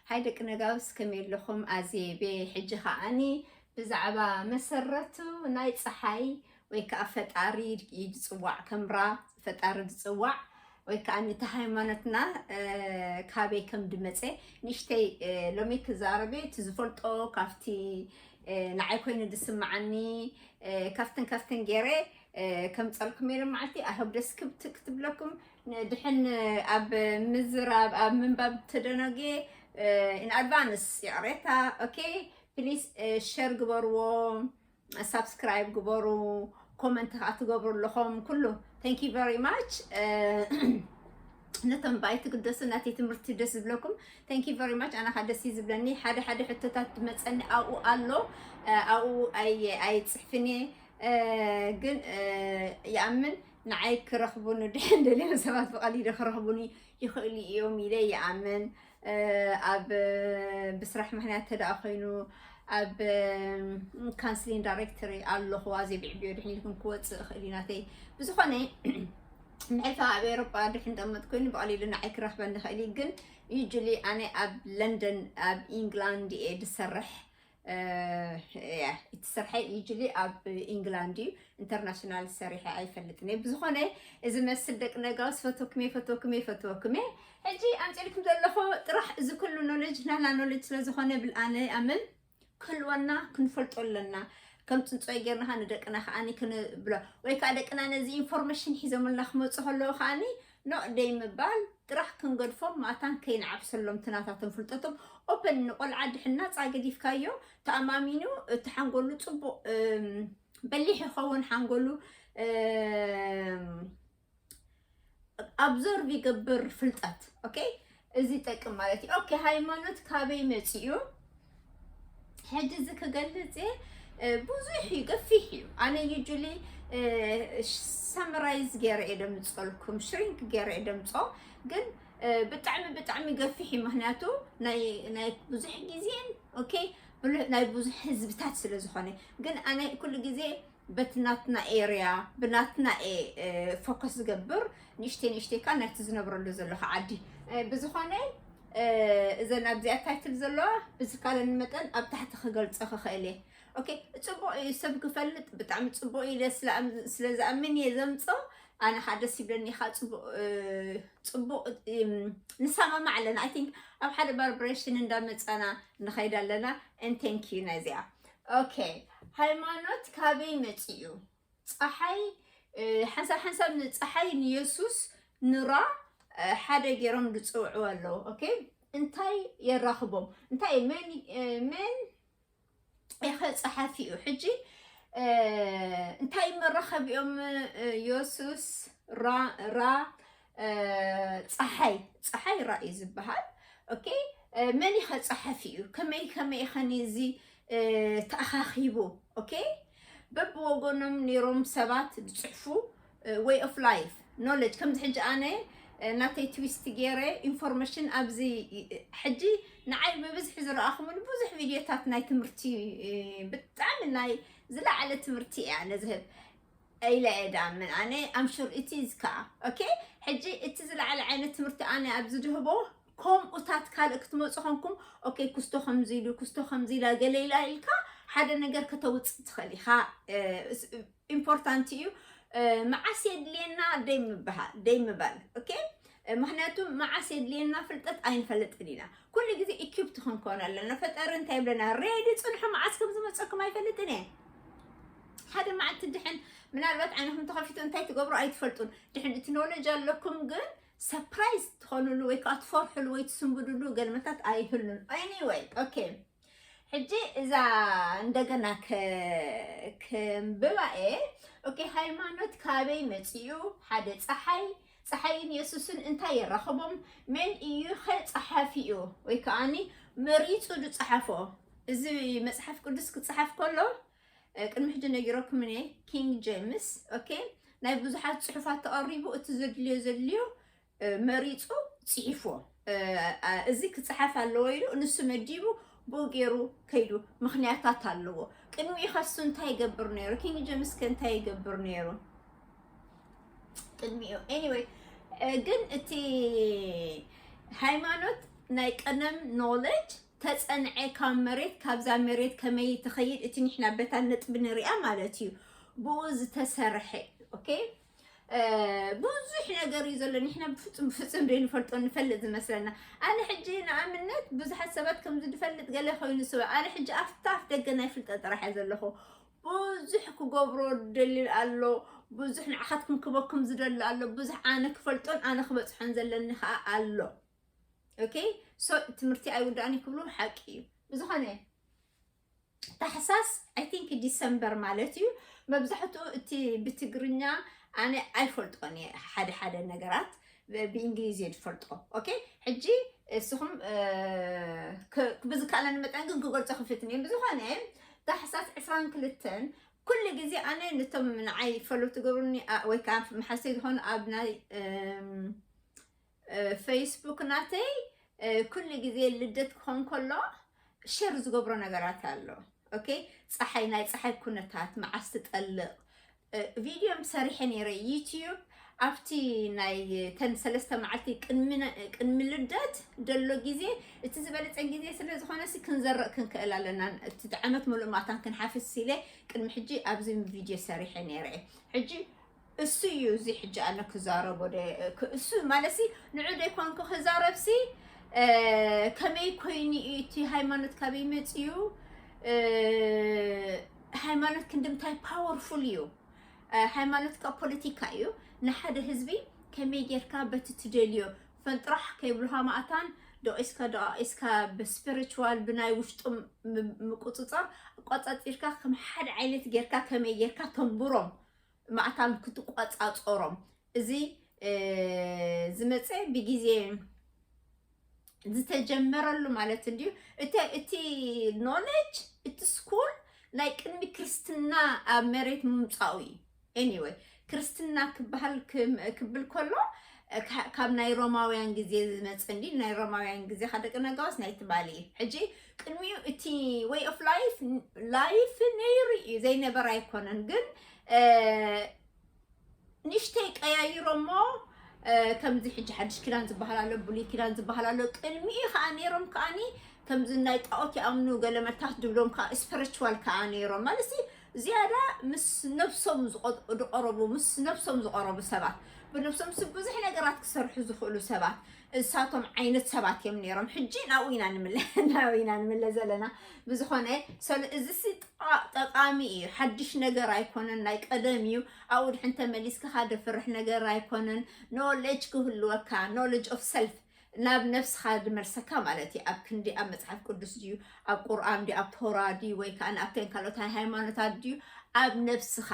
ሃይ ደቂ ነጋውስ ከመይ ኣለኹም ኣዜ ቤ ሕጂ ከዓኒ ብዛዕባ መሰረቱ ናይ ፀሓይ ወይ ከዓ ፈጣሪ እዩ ዝፅዋዕ ከምራ ፈጣሪ ዝፅዋዕ ወይ ከዓ ነቲ ሃይማኖትና ካበይ ከም ድመፀ ንእሽተይ ሎሚ ክዛረበ እቲ ዝፈልጦ ካብቲ ንዓይ ኮይኑ ዝስምዓኒ ካብትን ካብትን ገይረ ከምፀልኩም ኢለ መዓልቲ ኣህብ ደስ ክትብለኩም ድሕን ኣብ ምዝራብ ኣብ ምንባብ ተደናግየ ኢን ኣድቫንስ ይቕሬታ ኦኬ ፕሊስ ሸር ግበርዎ ሳብስክራይብ ግበሩ ኮመንት ከዓ ትገብሩ ኣለኹም ኩሉ ታንክ ዩ ቨሪ ማች ነቶም ባይ ትግደሱ ናተይ ትምህርቲ ደስ ዝብለኩም ታንክ ዩ ቨሪ ማች ኣነ ከዓ ደስ እዩ ዝብለኒ ሓደ ሓደ ሕቶታት መፀኒ ኣብኡ ኣሎ ኣብኡ ኣይፅሕፍን እየ ግን ይኣምን ንዓይ ክረኽቡኒ ድሕን ደልዮም ሰባት ብቐሊሉ ክረኽቡኒ ይኽእሉ እዮም ኢለ ይኣምን ኣብ ብስራሕ ምክንያት ተደኣ ኮይኑ ኣብ ካንስሊን ዳይሬክተሪ ኣለኹዋ ዘይብዕብዮ ድሕን ኢልኩም ክወፅእ እኽእል እዩ ናተይ ብዝኾነ ምሕልፋ ኣብ ኤሮጳ ድሕን ጠመጥ ኮይኑ ብቐሊሉ ንዓይ ክረኽበኒ ይኽእል እዩ ግን ዩጅሊ ኣነ ኣብ ለንደን ኣብ ኢንግላንድ እየ ዝሰርሕ እቲ ስርሐይ ዩጅሊ ኣብ ኢንግላንድ እዩ ኢንተርናሽናል ሰሪሐ ኣይፈልጥን እየ ብዝኾነ እዚ መስል ደቂ ነጋውስ ፈተኩሜ ፈተኩሜ ፈተኩሜ ሕጂ ኣምፅልኩም ዘለኹ ጥራሕ እዚ ኩሉ ኖሌጅ ናና ኖሌጅ ስለዝኾነ ብልኣነ ኣምን ክህልወና ክንፈልጦ ኣለና ከም ፅንፆይ ጌርና ከዓ ንደቅና ከዓኒ ክንብሎ ወይ ከዓ ደቅና ነዚ ኢንፎርሜሽን ሒዞምልና ክመፁ ከለዉ ከዓኒ ኖእ ደይምባል ጥራሕ ክንገድፎም ማታን ከይንዓብሰሎም እቲ ናታቶም ፍልጠቶም ኦፐን ንቆልዓ ድሕናጻ ገዲፍካዮ ተኣማሚኑ እቲ ሓንጎሉ ጽቡቕ በሊሕ ይኸውን ሓንጎሉ ኣብዞርቭ ይገብር ፍልጠት ኦኬ እዚ ይጠቅም ማለት እዩ። ኦኬ ሃይማኖት ካበይ መፂኡ? ሕጂ እዚ ክገልፅ ብዙሕ እዩ ገፊሕ እዩ። ኣነ ዩጁሊ ሰምራይዝ ገይረ እየ ደምፀልኩም ሽሪንክ ገይረ እየ ደምፆ ግን ብጣዕሚ ብጣዕሚ ገፊሕ እዩ። ምክንያቱ ናይ ብዙሕ ግዜን ኦኬ ናይ ብዙሕ ህዝብታት ስለ ዝኾነ ግን ኣነ ኩሉ ግዜ በቲ ናትና ኤርያ ብናትና ፎከስ ዝገብር ንእሽተይ ንእሽተይ ከዓ ናይቲ ዝነብረሉ ዘለካ ዓዲ ብዝኾነ እዘን ኣብዚኣ ታይትል ዘለዋ ብዝካለኒ መጠን ኣብ ታሕቲ ክገልፆ ክኽእል እየ ኦኬ ፅቡቅ እዩ ሰብ ክፈልጥ ብጣዕሚ ፅቡቅ እዩ ስለ ዝኣምን እየ ዘምፆ ኣነ ከዓ ደስ ይብለኒ ከዓ ፅቡቅ ንሰማማዕ ኣለና ኣይ ቲንክ ኣብ ሓደ ባርብሬሽን እንዳመፃና ንኸይድ ኣለና ን ቴንክ ዩ ናይዚኣ ኦኬ ሃይማኖት ካበይ መፂኡ? ፀሓይ ሓንሳብ ሓንሳብ ንፀሓይ ንየሱስ ንራ ሓደ ገይሮም ዝፅውዕዎ ኣለዉ። ኦኬ እንታይ የራኽቦም? እንታይ እዩ መን መን ኢኸ ፀሓፊ እዩ ሕጂ እንታይ መራኸቢኦም የሱስ ራ ራ ፀሓይ ፀሓይ ራኢ ዝበሃል ኦኬ መን ኢኸ ፀሓፊ እዩ ከመይ ከመይ ኸኒ እዚ ተኣኻኺቡ ኦኬ በብወገኖም ነይሮም ሰባት ዝፅሕፉ ወይ ኦፍ ላይፍ ኖሌጅ ከምዚ ሕጂ ኣነ ናተይ ትዊስት ገይረ ኢንፎርሜሽን ኣብዚ ሕጂ ንዓይ ብብዝሒ ዝረኣኹምን ብዙሕ ቪድዮታት ናይ ትምህርቲ ብጣዕሚ ናይ ዝለዓለ ትምህርቲ እያ ነዝህብ ኢለ እየ ድኣምን ኣነ ኣም ሹር ኢት ኢዝ ከኣ ኦኬ ሕጂ እቲ ዝለዓለ ዓይነት ትምህርቲ ኣነ ኣብዚ ድህቦ ከምኡታት ካልእ ክትመፁ ኮንኩም ኦኬ ኩስቶ ከምዚ ኢሉ ኩስቶ ከምዚ ኢላ ገለ ኢላ ኢልካ ሓደ ነገር ከተውፅእ ትኽእል ኢኻ ኢምፖርታንት እዩ መዓስ የድልየና ደይ ምበሃል ደይ ምባል ኦኬ ምክንያቱ መዓስ የድልየና ፍልጠት ኣይንፈልጥን ኢና ኩሉ ግዜ ኢኪፕት ክንኮን ኣለና ፈጣሪ እንታይ ይብለና ሬዲ ፅንሑ መዓስ ከም ዝመፀኩም ኣይፈልጥን እየ ሓደ መዓልቲ ድሕን ምናልባት ዓይንኹም ተኸፊቱ እንታይ ትገብሩ ኣይትፈልጡን ድሕን እቲ ኖሌጅ ኣለኩም ግን ሰፕራይዝ ትኾኑሉ ወይ ከዓ ትፈርሕሉ ወይ ትስንብድሉ ገልመታት ኣይህሉን ኤኒወይ ኦኬ ሕጂ እዛ እንደገና ክንብባ እየ ኦኬ ሃይማኖት ካበይ መፂኡ ሓደ ፀሓይ ፀሓይን የሱስን እንታይ የራኽቦም መን እዩ ኸ ፀሓፊኡ ወይ ከዓኒ መሪፁ ዝፀሓፎ እዚ መፅሓፍ ቅዱስ ክፀሓፍ ከሎ ቅድሚ ሕጂ ነጊረኩም እየ ኪንግ ጀምስ ኦኬ ናይ ብዙሓት ፅሑፋት ተቐሪቡ እቲ ዘድልዮ ዘድልዮ መሪጹ ጺሒፍዎ እዚ ክጽሓፍ ኣለዎ ኢሉ ንሱ መዲቡ ብኡ ገይሩ ከይዱ ምክንያታት ኣለዎ ቅድሚኡ ከሱ እንታይ ይገብር ነይሩ ኪንግ ጀምስ ከ እንታይ ይገብር ነይሩ ቅድሚኡ ኤኒዌይ ግን እቲ ሃይማኖት ናይ ቀደም ኖሌጅ ተፀንዐ ካብ መሬት ካብዛ መሬት ከመይ ትኸይድ እቲ ንሕና በታ ነጥቢ ንሪኣ ማለት እዩ ብኡ ዝተሰርሐ ኦኬ ብዙሕ ነገር እዩ ዘሎ ንሕና ብፍፁም ብፍፁም ዘይንፈልጦ ንፈልጥ ዝመስለና ኣነ ሕጂ ንኣብነት ብዙሓት ሰባት ከምዚ ዝፈልጥ ገለ ኮይኑ ስበ ኣነ ሕጂ ኣብታ ኣፍ ደገ ናይ ፍልጠ ጥራሕ እየ ዘለኹ ብዙሕ ክገብሮ ደሊ ኣሎ ብዙሕ ንዓኻትኩም ክበኩም ዝደሊ ኣሎ ብዙሕ ኣነ ክፈልጦን ኣነ ክበፅሖን ዘለኒ ከዓ ኣሎ ኦኬ ሶ ትምህርቲ ኣይውዳእን ክብሉ ሓቂ እዩ ብዝኾነ ታሕሳስ ኣይ ቲንክ ዲሰምበር ማለት እዩ መብዛሕትኡ እቲ ብትግርኛ ኣነ ኣይፈልጦን እየ ሓደ ሓደ ነገራት ብእንግሊዝ እየ ዝፈልጦ ኦኬ ሕጂ እስኹም ብዝካለን መጠን ግን ክገልፆ ክፍትን እየ ብዝኾነ ታሕሳስ ዕስራን ክልተን ኩሉ ግዜ ኣነ ነቶም ንዓይ ፈሎ ትገብሩኒ ወይ ከዓ መሓሰይ ዝኾኑ ኣብ ናይ ፈይስቡክ ናተይ ኩሉ ግዜ ልደት ክኾን ከሎ ሸር ዝገብሮ ነገራት ኣሎ ኦኬ ፀሓይ ናይ ፀሓይ ኩነታት መዓስ ትጠልቕ ቪድዮ ሰሪሐ ነይረ ዩትዩብ ኣብቲ ናይ ተን ሰለስተ መዓልቲ ቅድሚ ልደት ደሎ ግዜ እቲ ዝበለፀ ግዜ ስለ ዝኾነ ሲ ክንዘርቕ ክንክእል ኣለና እቲ ዓመት ሙሉእ ማታን ክንሓፍስ ኢለ ቅድሚ ሕጂ ኣብዚ ቪድዮ ሰሪሐ ነይረ ሕጂ እሱ እዩ እዚ ሕጂ ኣነ ክዛረቦ እሱ ማለት ንዑ ደይኮንኩ ክዛረብሲ ከመይ ኮይኑ እዩ እቲ ሃይማኖት ካበይ መፅዩ ሃይማኖት ክንድምታይ ፓወርፉል እዩ ሃይማኖት ካብ ፖለቲካ እዩ ንሓደ ህዝቢ ከመይ ጌርካ በቲ ትደልዮ ፈንጥራሕ ከይብልካ ማእታን ደቂስካ ደቂስካ ብስፒሪቹዋል ብናይ ውሽጡ ምቁፅፃር ቆፃፂርካ ከም ሓደ ዓይነት ጌርካ ከመይ ጌርካ ተንብሮም ማዕታም ክትቆፃፀሮም እዚ ዝመፀ ብግዜ ዝተጀመረሉ ማለት እንድዩ እቲ ኖለጅ እቲ ስኩል ናይ ቅድሚ ክርስትና ኣብ መሬት ምምፃኡ እዩ ኤኒወይ ክርስትና ክበሃል ክብል ከሎ ካብ ናይ ሮማውያን ግዜ ዝመፅ እንዲ ናይ ሮማውያን ግዜ ካደቂ ነጋዋስ ናይ ትማሊ እዩ ሕጂ ቅድሚኡ እቲ ወይ ኦፍ ላይፍ ላይፍ ነይሩ እዩ ዘይነበረ ኣይኮነን ግን ንእሽተይ ቀያይሮሞ ከምዚ ሕጂ ሓድሽ ኪዳን ዝበሃል ኣሎ ብሉይ ኪዳን ዝበሃል ኣሎ ቅድሚኡ ከዓ ነይሮም ከዓኒ ከምዚ ናይ ጣዖት ይኣምኑ ገለ መታት ድብሎም ከዓ ስፐሪቹዋል ከዓ ነይሮም ማለት ዝያዳ ምስ ነብሶም ዝቐረቡ ምስ ነብሶም ዝቐረቡ ሰባት ብነብሶም ስ ብዙሕ ነገራት ክሰርሑ ዝኽእሉ ሰባት እሳቶም ዓይነት ሰባት እዮም ነይሮም። ሕጂ ናብኡ ኢና ንምለ ናብኡ ኢና ንምለ ዘለና ብዝኾነ ሰሉ እዚ ሲ ጠ- ጠቃሚ እዩ። ሓድሽ ነገር ኣይኮነን፣ ናይ ቀደም እዩ። ኣብኡ ድሕን ተመሊስካ ደፍርሕ ነገር ኣይኮነን። ኖሌጅ ክህልወካ ኖሌጅ ኦፍ ሰልፍ ናብ ነፍስኻ ዝመልሰካ ማለት እዩ። ኣብ ክንዲ ኣብ መጽሓፍ ቅዱስ ድዩ ኣብ ቁርኣን ድዩ ኣብ ቶራ ድዩ ወይ ከዓ ኣብተን ካልኦት ሃይማኖታት ድዩ ኣብ ነፍስኻ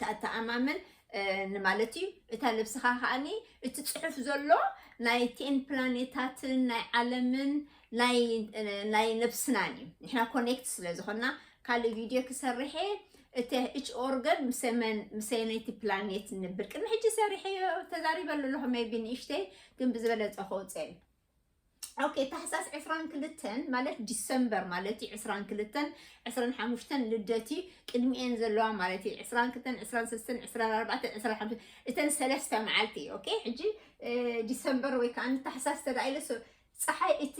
ተኣተኣማምን ንማለት እዩ እታ ልብስኻ ከዓኒ እቲ ፅሑፍ ዘሎ ናይ ቴን ፕላኔታትን ናይ ዓለምን ናይ ነብስናን እዩ ንሕና ኮኔክት ስለ ዝኾና ካልእ ቪድዮ ክሰርሐ እቲ እች ኦርገን ምሰመይቲ ፕላኔት ንብል ቅድሚ ሕጂ ሰሪሐዮ ተዛሪበሉ ኣለኹ ሜቢ ንእሽተይ ግን ብዝበለፀ ከውፅኤን ኦኬ ታሕሳስ ዕስራን ክልተን ማለት ዲሰምበር ማለት እዩ ዕስራን ክልተን ዕስራን ሓሙሽተን ልደት እዩ ቅድሚኤን ዘለዋ ማለት እዩ ዕስራን ክልተን ዕስራን ሰስተን ዕስራን ኣርባዕተን ዕስራን ሓሙሽተን እተን ሰለስተ መዓልቲ እዩ ኦኬ ሕጂ ዲሰምበር ወይ ከዓ ታሕሳስ ተላኢለ ፀሓይ እቲ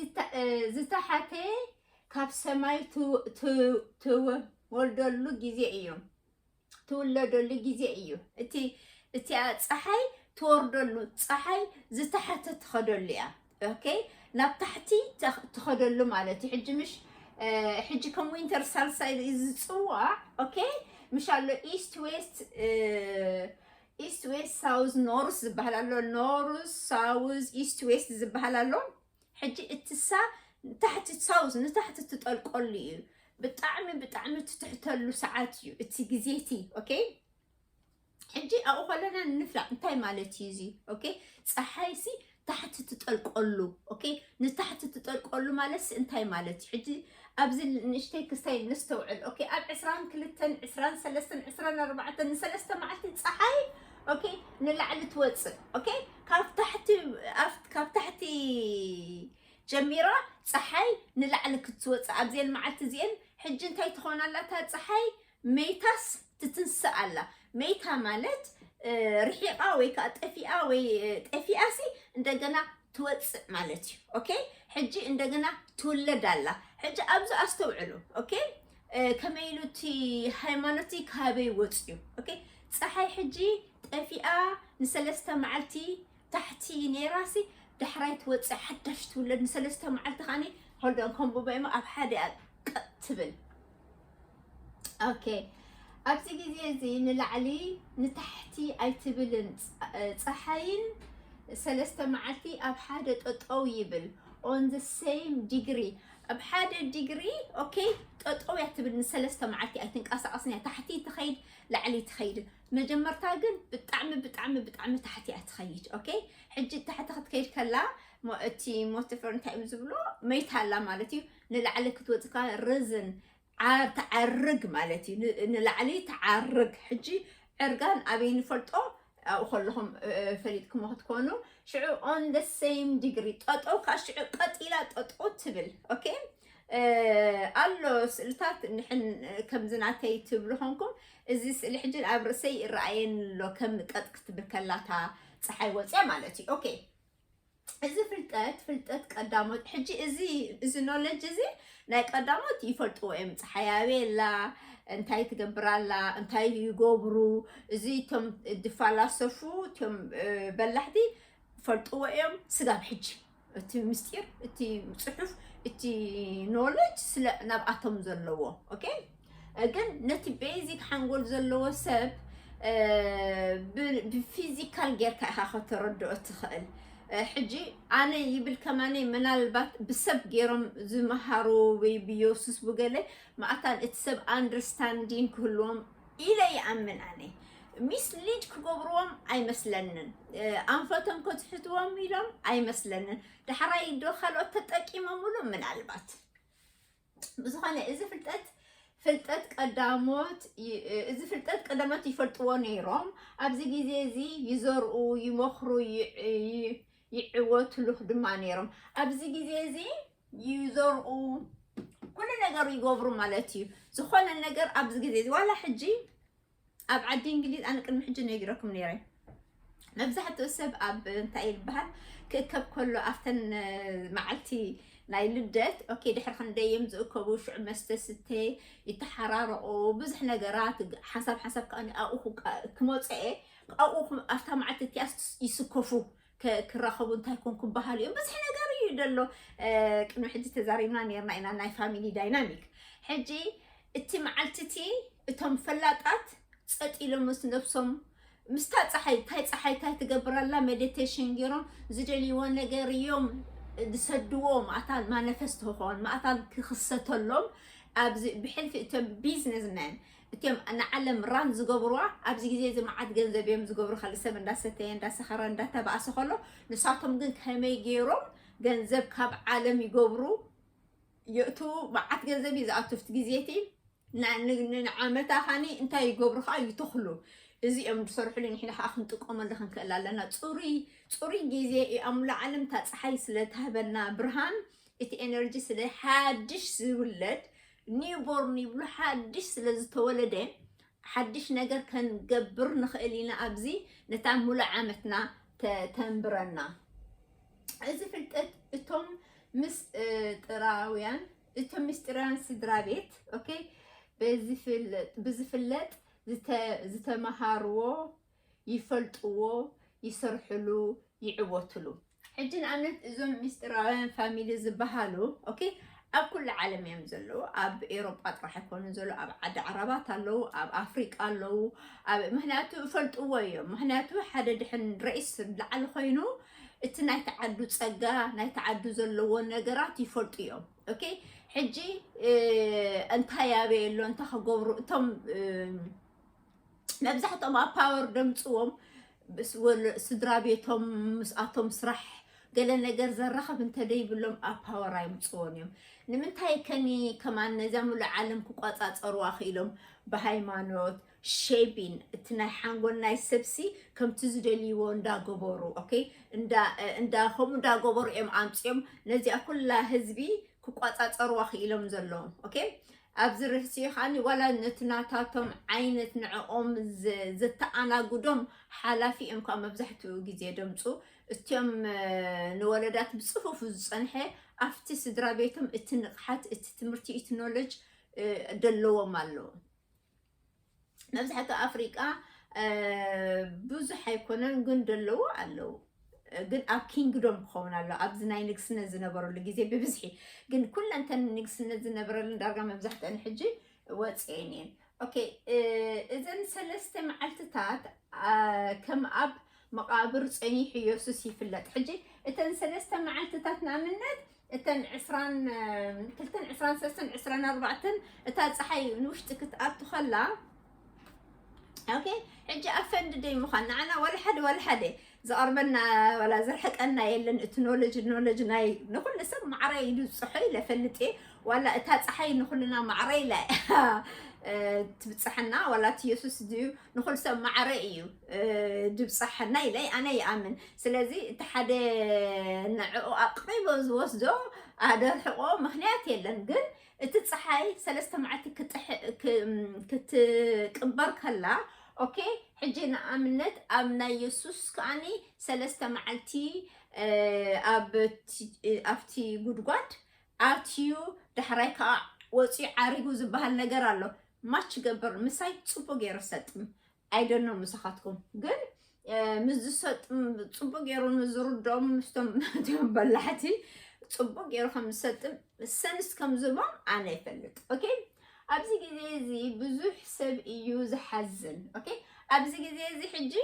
ዝተሓተ ካብ ሰማይ ትወልደሉ ግዜ እዩ ትውለደሉ ግዜ እዩ እቲ እቲኣ ፀሓይ ትወርደሉ ፀሓይ ዝተሓተ ትኸደሉ እያ ኦኬ ናብ ታሕቲ ትኸደሉ ማለት እዩ ሕጂ ምሽ ሕጂ ከም ዊንተር ሳልሳይ ዝፅዋዕ ኦኬ ምሽ ኣሎ ኢስት ዌስት ኢስት ዌስት ሳውዝ ኖርስ ዝበሃል ኣሎ ኖርስ ሳውዝ ኢስት ዌስት ዝበሃል ኣሎ ሕጂ እትሳ ታሕቲ ሳውዝ ንታሕቲ ትጠልቀሉ እዩ ብጣዕሚ ብጣዕሚ ትትሕተሉ ሰዓት እዩ እቲ ግዜ እቲ ኦኬ ሕጂ ኣብኡ ከለና ንፍላጥ እንታይ ማለት እዩ እዚ ኦኬ ፀሓይ ሲ ታሕቲ ትጠልቀሉ ኦኬ ንታሕቲ ትጠልቀሉ ማለት ሲ እንታይ ማለት እዩ ሕጂ ኣብዚ ንእሽተይ ክስተይ ነስተውዕል ኦኬ ኣብ ዕስራን ክልተን ዕስራን ሰለስተን ዕስራን ኣርባዕተን ንሰለስተ መዓልቲ ፀሓይ ኦኬ ንላዕሊ ትወፅእ ኦኬ ካብ ታሕቲ ኣፍ- ካብ ታሕቲ ጀሚራ ፀሓይ ንላዕሊ ክትወፅእ ኣብዘን መዓልቲ እዚአን ሕጂ እንታይ ትኾን ኣላ እታ ፀሓይ መይታስ ትትንስእ ኣላ መይታ ማለት ርሒቓ ወይ ከዓ ጠፊኣ ወይ ጠፊኣ ሲ እንደገና ትወፅእ ማለት እዩ ኦኬ ሕጂ እንደገና ትውለድ ኣላ ሕጂ ኣብዚ ኣስተውዕሉ ኦኬ ከመይ ኢሉ እቲ ሃይማኖት ካበይ ወፅዩ ኦኬ ፀሓይ ሕጂ ጠፊኣ ንሰለስተ መዓልቲ ታሕቲ ኔራሲ ዳሕራይ ትወፅእ ሓዳሽ ትውለድ ንሰለስተ መዓልቲ ከዓኒ ሆልዶን ከምብቦ እሞ ኣብ ሓደ እያ ቀጥ ትብል ኦኬ ኣብዚ ግዜ እዚ ንላዕሊ ንታሕቲ ኣይትብልን ፀሓይን ሰለስተ መዓልቲ ኣብ ሓደ ጠጠው ይብል ኦን ዘ ሴም ዲግሪ ኣብ ሓደ ዲግሪ ኦኬ ጠጠው እያ ትብል ንሰለስተ መዓልቲ ኣይትንቀሳቐስን እያ ታሕቲ ትኸይድ ላዕሊ ትኸይድ መጀመርታ ግን ብጣዕሚ ብጣዕሚ ብጣዕሚ ታሕቲ እያ ትኸይድ ኦኬ ሕጂ ታሕቲ ክትከይድ ከላ ሞ- እቲ ሞቲፈር እንታይ እዮም ዝብሎ መይታ ኣላ ማለት እዩ ንላዕሊ ክትወፅእ ከላ ርዝን ዓ- ትዓርግ ማለት እዩ ን- ንላዕሊ ትዓርግ ሕጂ ዕርጋን ኣበይ ንፈልጦ ኣብኡ ከለኹም እ- እ- ፈሊጥክሞ ክትኮኑ ሽዑ ኦን ደ ሴም ዲግሪ ጠጠው ከዓ ሽዑ ቀጢላ ጠጠው ትብል ኦኬ ኣሎ ስእልታት ንሕን ከምዚ ናተይ ትብሉ ኾንኩም እዚ ስእሊ ሕጂ ኣብ ርእሰይ ይረኣየኒ ኣሎ ከም ቀጥ ክትብል ከላታ ፀሓይ ወፅያ ማለት እዩ ኦኬ እዚ ፍልጠት ፍልጠት ቀዳሞት ሕጂ እዚ እዚ ኖለጅ እዚ ናይ ቀዳሞት ይፈልጥዎ እዮም ፀሓይ ኣበይ ኣላ እንታይ ትገብር ኣላ እንታይ ይገብሩ እዚ እቶም ድፋላሰፉ እቶም እ፣ በላሕቲ ይፈልጥዎ እዮም ስጋብ ሕጂ እቲ ምስጢር እቲ ፅሑፍ እቲ ኖሌጅ ስለ ናብኣቶም ዘለዎ ኦኬ ግን ነቲ ቤዚክ ሓንጎል ዘለዎ ሰብ ብፊዚካል ጌርካ ኢኻ ከተረድኦ ትኽእል ሕጂ ኣነ ይብል ከማነ ምናልባት ብሰብ ገይሮም ዝመሃሩ ወይ ብዮሱስ ብገለ ማእታን እቲ ሰብ ኣንደርስታንዲን ክህልዎም ኢለ ይኣምን ኣነ ሚስ ሊድ ክገብርዎም ኣይመስለንን ኣንፈቶም ከዝሕትዎም ኢሎም ኣይመስለንን ዳሕራይ ዶ ካልኦት ተጠቂሞምሉ ምናልባት ብዝኾነ እዚ ፍልጠት ፍልጠት ቀዳሞት እዚ ፍልጠት ቀዳሞት ይፈልጥዎ ነይሮም ኣብዚ ግዜ እዚ ይዘርኡ ይመኽሩ ይዕወትሉ ድማ ነይሮም ኣብዚ ግዜ እዚ ይዘርኡ ኩሉ ነገሩ ይገብሩ ማለት እዩ። ዝኾነ ነገር ኣብዚ ግዜ እዚ ዋላ ሕጂ ኣብ ዓዲ እንግሊዝ ኣነ ቅድሚ ሕጂ ነጊረኩም ነይረ መብዛሕትኡ ሰብ ኣብ እንታይ ይበሃል ክእከብ ከሎ ኣብተን መዓልቲ ናይ ልደት ኦኬ ድሕሪ ክንደይ እዮም ዝእከቡ ሽዑ መስተ ስተ ይተሓራረቑ ብዙሕ ነገራት ሓንሳብ ሓንሳብ ከዓ ኣብኡ ክመፅአ ኣብኡ ኣብታ መዓልቲ እቲኣ ይስከፉ ክራኸቡ እንታይ ኮን ክበሃሉ እዮም ብዝሒ ነገር እዩ ደሎ ቅድሚ ሕጂ ተዛሪብና ነርና ኢና ናይ ፋሚሊ ዳይናሚክ ሕጂ እቲ መዓልቲ እቲ እቶም ፈላጣት ፀጥ ኢሎም ምስ ነብሶም ምስታ ፀሓይ እንታይ ፀሓይ እንታይ ትገብራላ ሜዲቴሽን ገይሮም ዝደልይዎ ነገር እዮም ዝሰድዎ ማእታን ማነፈስት ክኾን ማእታን ክኽሰተሎም ኣብዚ ብሕልፊ እቶም ቢዝነስመን እትም ንዓለም ራን ዝገብርዋ ኣብዚ ግዜ እዚ መዓት ገንዘብ እዮም ዝገብሩ ካልእ ሰብ እንዳሰተየ እንዳሰኸረ እንዳተባእሰ ከሎ ንሳቶም ግን ከመይ ገይሮም ገንዘብ ካብ ዓለም ይገብሩ የእትዉ መዓት ገንዘብ እዩ ዝኣቱ ኣብቲ ግዜ እቲ ንዓመታ ኻኒ እንታይ ይገብሩ ከዓ ይተኽሉ እዚ እዮም ዝሰርሕሉ ንሕና ከዓ ክንጥቀመሉ ክንክእል ኣለና ፅሩይ ፅሩይ ግዜ እኣምሉ ዓለም እታ ፀሓይ ስለትሃበና ብርሃን እቲ ኤነርጂ ስለ ሓድሽ ዝውለድ ኒው ቦርን ይብሉ ሓድሽ ስለ ዝተወለደ ሓድሽ ነገር ከንገብር ንኽእል ኢና ኣብዚ ነታ ሙሉእ ዓመትና ተንብረና እዚ ፍልጠት እቶም ምስጢራውያን እቶም ምስጢራውያን ስድራ ቤት ኦኬ ብዝፍለጥ ዝተመሃርዎ ይፈልጥዎ ይሰርሕሉ ይዕወትሉ። ሕጂ ንኣብነት እዞም ሚስጢራውያን ፋሚሊ ዝባሃሉ ኦኬ ኣብ ኩሉ ዓለም እዮም ዘለዉ ኣብ ኤሮጳ ጥራሕ ኣይኮኑን ዘለዉ ኣብ ዓዲ ዓራባት ኣለዉ ኣብ ኣፍሪቃ ኣለዉ ኣብ ምክንያቱ እፈልጥዎ እዮም ምክንያቱ ሓደ ድሕን ረኢስ ላዕሊ ኮይኑ እቲ ናይ ተዓዱ ጸጋ ናይ ተዓዱ ዘለዎ ነገራት ይፈልጡ እዮም ኦኬ ሕጂ እንታይ ኣበየ ኣሎ እንታይ ክገብሩ እቶም መብዛሕትኦም ኣብ ፓወር ደምፅዎም ስድራ ቤቶም ምስኣቶም ስራሕ ገለ ነገር ዘራኸብ እንተደይብሎም ኣብ ፓወር ኣይምፅዎን እዮም ንምንታይ ከኒ ከማን ነዛ ምሉእ ዓለም ክቆፃፀርዋ ክኢሎም ብሃይማኖት ሼቢን እቲ ናይ ሓንጎል ናይ ሰብሲ ከምቲ ዝደልይዎ እንዳገበሩ ኦኬ እንዳ እንዳ ከምኡ እንዳገበሩ እዮም ኣምፅኦም ነዚኣ ኩላ ህዝቢ ክቆፃፀርዋ ክኢሎም ዘለዎም ኦኬ ኣብዚ ርህጺኡ ከኣ ዋላ ነቲ ናታቶም ዓይነት ንዕኦም ዘተኣናግዶም ሓላፊ እዮም ከኣ መብዛሕትኡ ግዜ ደምጹ። እትም ንወለዳት ብጽፉፍ ዝጸንሐ ኣብቲ ስድራቤቶም እቲ ንቕሓት፣ እቲ ትምህርቲ፣ እቲ ኖለጅ ደለዎም ኣሎ። መብዛሕትኡ ኣፍሪቃ ብዙሕ ኣይኮነን ግን ደለዎ ኣለዉ ግን ኣብ ኪንግዶም ክኸውን ኣሎ ኣብዚ ናይ ንግስነት ዝነበረሉ ግዜ ብብዝሒ ግን ኩለንተን ንግስነት ዝነበረለን ዳርጋ መብዛሕትአን ሕጂ ወፅኤን እየን ኦኬ እዘን ሰለስተ መዓልትታት ከም ኣብ መቃብር ፀኒሑ የሱስ ይፍለጥ ሕጂ እተን ሰለስተ መዓልትታት ንኣብነት እተን ዕስራን ክልተን ዕስራን ሰለስተን ዕስራን ኣርባዕተን እታ ፀሓይ ንውሽጢ ክትኣቱ ከላ ኦኬ ሕጂ ኣብ ፈንዲ ደይ ምዃን ንዓና ዋላ ሓደ ዋላ ሓደ ዝቐርበና ዋላ ዝርሕቀና የለን እቲ ኖለጅ ኖለጅ ናይ ንኩሉ ሰብ ማዕረ ኢሉ ዝፅሖ ኢለ ፈልጥ እየ ዋላ እታ ፀሓይ ንኩልና ማዕረ ኢላ ትብፅሐና ዋላ እቲ የሱስ ድዩ ንኩሉ ሰብ ማዕረ እዩ ድብፅሐና ኢለ ኣነ ይኣምን ስለዚ እቲ ሓደ ንዕኡ ኣቕሪቦ ዝወስዶ ኣደርሕቆ ምክንያት የለን ግን እቲ ፀሓይ ሰለስተ መዓልቲ ክትቅበር ከላ ኦኬ ሕጂ ንኣብነት ኣብ ናይ የሱስ ከዓኒ ሰለስተ መዓልቲ ኣብቲ ጉድጓድ ኣትዩ ዳሕራይ ከዓ ወፅዩ ዓሪጉ ዝበሃል ነገር ኣሎ ማች ገበር ምሳይ ፅቡቅ ገይሩ ሰጥም ኣይደኖ ምሳኻትኩም ግን ምስ ዝሰጥም ፅቡቅ ገይሩ ንዝርድኦም ምስቶም ናትዮም በላሕቲ ፅቡቅ ገይሩ ከም ዝሰጥም ሰንስ ከም ዝቦም ኣነ ይፈልጥ ኦኬ ኣብዚ ግዜ እዚ ብዙሕ ሰብ እዩ ዝሓዝን ኦኬ ኣብዚ ግዜ እዚ ሕጂ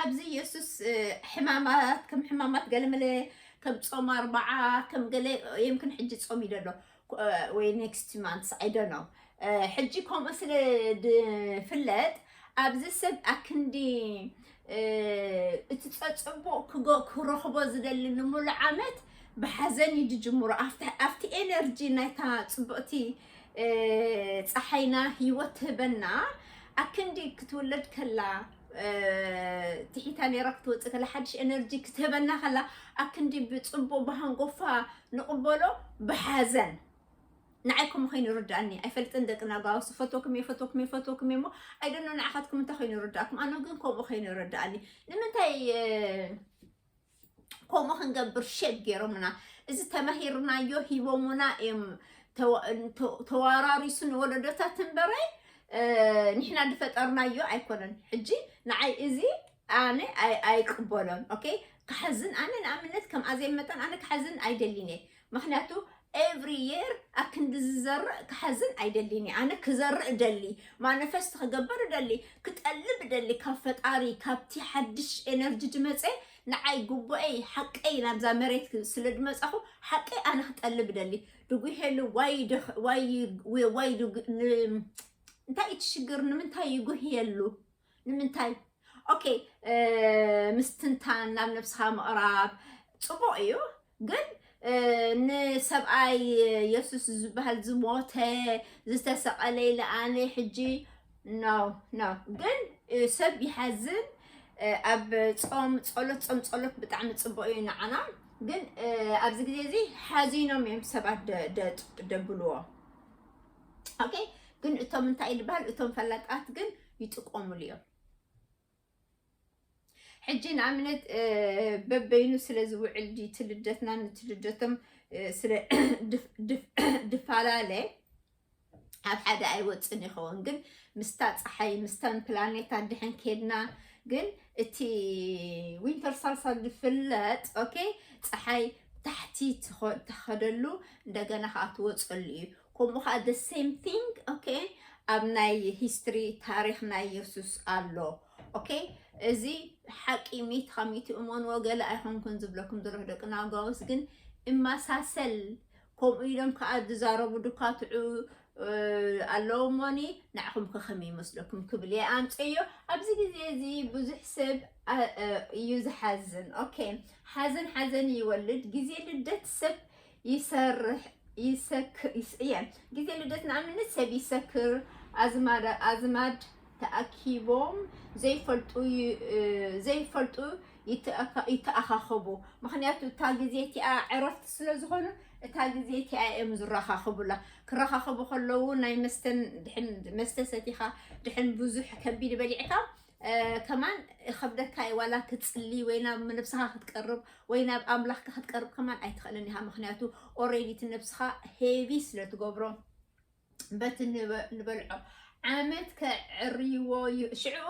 ኣብዚ የሱስ ሕማማት ከም ሕማማት ገለመለ ከም ጾም ኣርባዓ ከም ገለ የምክን ሕጂ ጾም እዩ ደሎ ወይ ኔክስት ማንትስ ኣይደኖ ሕጂ ከምኡ ስለ ድፍለጥ ኣብዚ ሰብ ኣክንዲ እቲ ጸጽቡቕ ክረኽቦ ዝደሊ ንምሉ ዓመት ብሓዘን እዩ ድጅምሮ ኣብቲ ኤነርጂ ናይታ ጽቡቕቲ ፀሓይና ህይወት ትህበና ኣክንዲ ክትውለድ ከላ ትሒታ ነይራ ክትወፅእ ከላ ሓድሽ ኤነርጂ ክትህበና ከላ ኣክንዲ ብፅቡቅ ብሃንጎፋ ንቕበሎ ብሓዘን ንዓይ ከምኡ ኮይኑ ይርድኣኒ ኣይፈልጥን ደቂ ናጓውስ ፈትወኩም እየ ፈትወኩም እየ ፈትወኩም እየ እሞ ኣይደኖ ንዓኻትኩም እንታይ ኮይኑ ይርድኣኩም ኣነ ግን ከምኡ ኮይኑ ይርድኣኒ ንምንታይ ከምኡ ክንገብር ሸግ ገይሮምና እዚ ተማሂርናዮ ሂቦሙና እዮም ተዋራሪሱ ንወለዶታት እምበረ ንሕና ዝፈጠርናዮ ኣይኮነን ሕጂ ንዓይ እዚ ኣነ ኣይቅበሎን ኦኬ ክሓዝን ኣነ ንኣብነት ከም ኣዘይ መጠን ኣነ ክሓዝን ኣይደሊን እየ ምክንያቱ ኤቭሪ የር ኣክንዲ ዝዘርእ ክሓዝን ኣይደሊን እየ ኣነ ክዘርእ ደሊ ማነፈስት ክገበር ደሊ ክጠልብ ደሊ ካብ ፈጣሪ ካብቲ ሓድሽ ኤነርጂ ድመፀ ንዓይ ጉቡኤይ ሓቀይ ናብዛ መሬት ስለ ድመፃኹ ሓቀይ ኣነ ክጠልብ ደሊ ድጉሄሉ ዋይ እንታይ እዩ ትሽግር ንምንታይ ይጉህየሉ ንምንታይ ኦኬ ምስትንታን ናብ ነብስኻ ምቕራብ ፅቡቕ እዩ ግን ንሰብኣይ የሱስ ዝበሃል ዝሞተ ዝተሰቐለ ኢለ ኣነ ሕጂ ኖ ኖ ግን ሰብ ይሓዝን ኣብ ፆም ፀሎት ፆም ፀሎት ብጣዕሚ ፅቡቕ እዩ ንዓና ግን ኣብዚ ግዜ እዚ ሓዚኖም እዮም ሰባት ደብልዎ ኦኬ ግን እቶም እንታይ ዝበሃል እቶም ፈላጣት ግን ይጥቆምሉ እዮም ሕጂ ንኣብነት በበይኑ ስለ ዝውዕል ድዩ እቲ ልደትና ነቲ ልደቶም ስለ ድፈላለ ኣብ ሓደ ኣይወፅን ይኸውን ግን ምስታ ፀሓይ ምስታን ፕላኔታት ድሕን ከድና ግን እቲ ዊንተር ሳልሳል ዝፍለጥ ኦኬ ፀሓይ ታሕቲ ተኸደሉ እንደገና ከዓ ትወፀሉ እዩ ከምኡ ከኣ the same thing okay ኣብ ናይ history ታሪክ ናይ የሱስ ኣሎ okay እዚ ሓቂ ሚት ካብ ሚት እመንዎ ገለ ኣይኮንኩን ዝብለኩም ዘለኹ ደቂ ናውጋውስ ግን እመሳሰል ከምኡ ኢሎም ከኣ ዝዛረቡ ድኳትዑ ኣለዎ እሞኒ ንዓኹም ከ ከመይ ይመስለኩም ክብል እየ ኣምፀዮ ኣብዚ ግዜ እዚ ብዙሕ ሰብ እዩ ዝሓዝን ኦኬ ሓዘን ሓዘን ይወልድ ግዜ ልደት ሰብ ይሰርሕ ይሰክር ይስእየ ግዜ ልደት ንኣብነት ሰብ ይሰክር ኣዝማድ ኣዝማድ ተኣኪቦም ዘይፈልጡ ይ- እ፣ ዘይፈልጡ ይተኣካ- ይተኣኻኸቡ ምክንያቱ እታ ግዜ እቲኣ ዕረፍቲ ስለ ዝኾኑ እታ ግዜ እቲኣ እዮም ዝራኻኸቡላ ክራኻኸቡ ከለዉ ናይ መስተን ድሕን መስተ ሰቲኻ ድሕን ብዙሕ ከቢድ በሊዕካ ከማን ይኸብደካ እዩ ዋላ ክትፅሊ ወይ ናብ ነብስኻ ክትቀርብ ወይ ናብ ኣምላኽካ ክትቀርብ ከማን ኣይትኽእልን ኢኻ ምክንያቱ ኦሬዲ እቲ ነብስኻ ሄቪ ስለትገብሮ በቲ ንበልዖ ዓመት ከዕርይዎ ሽዕኡ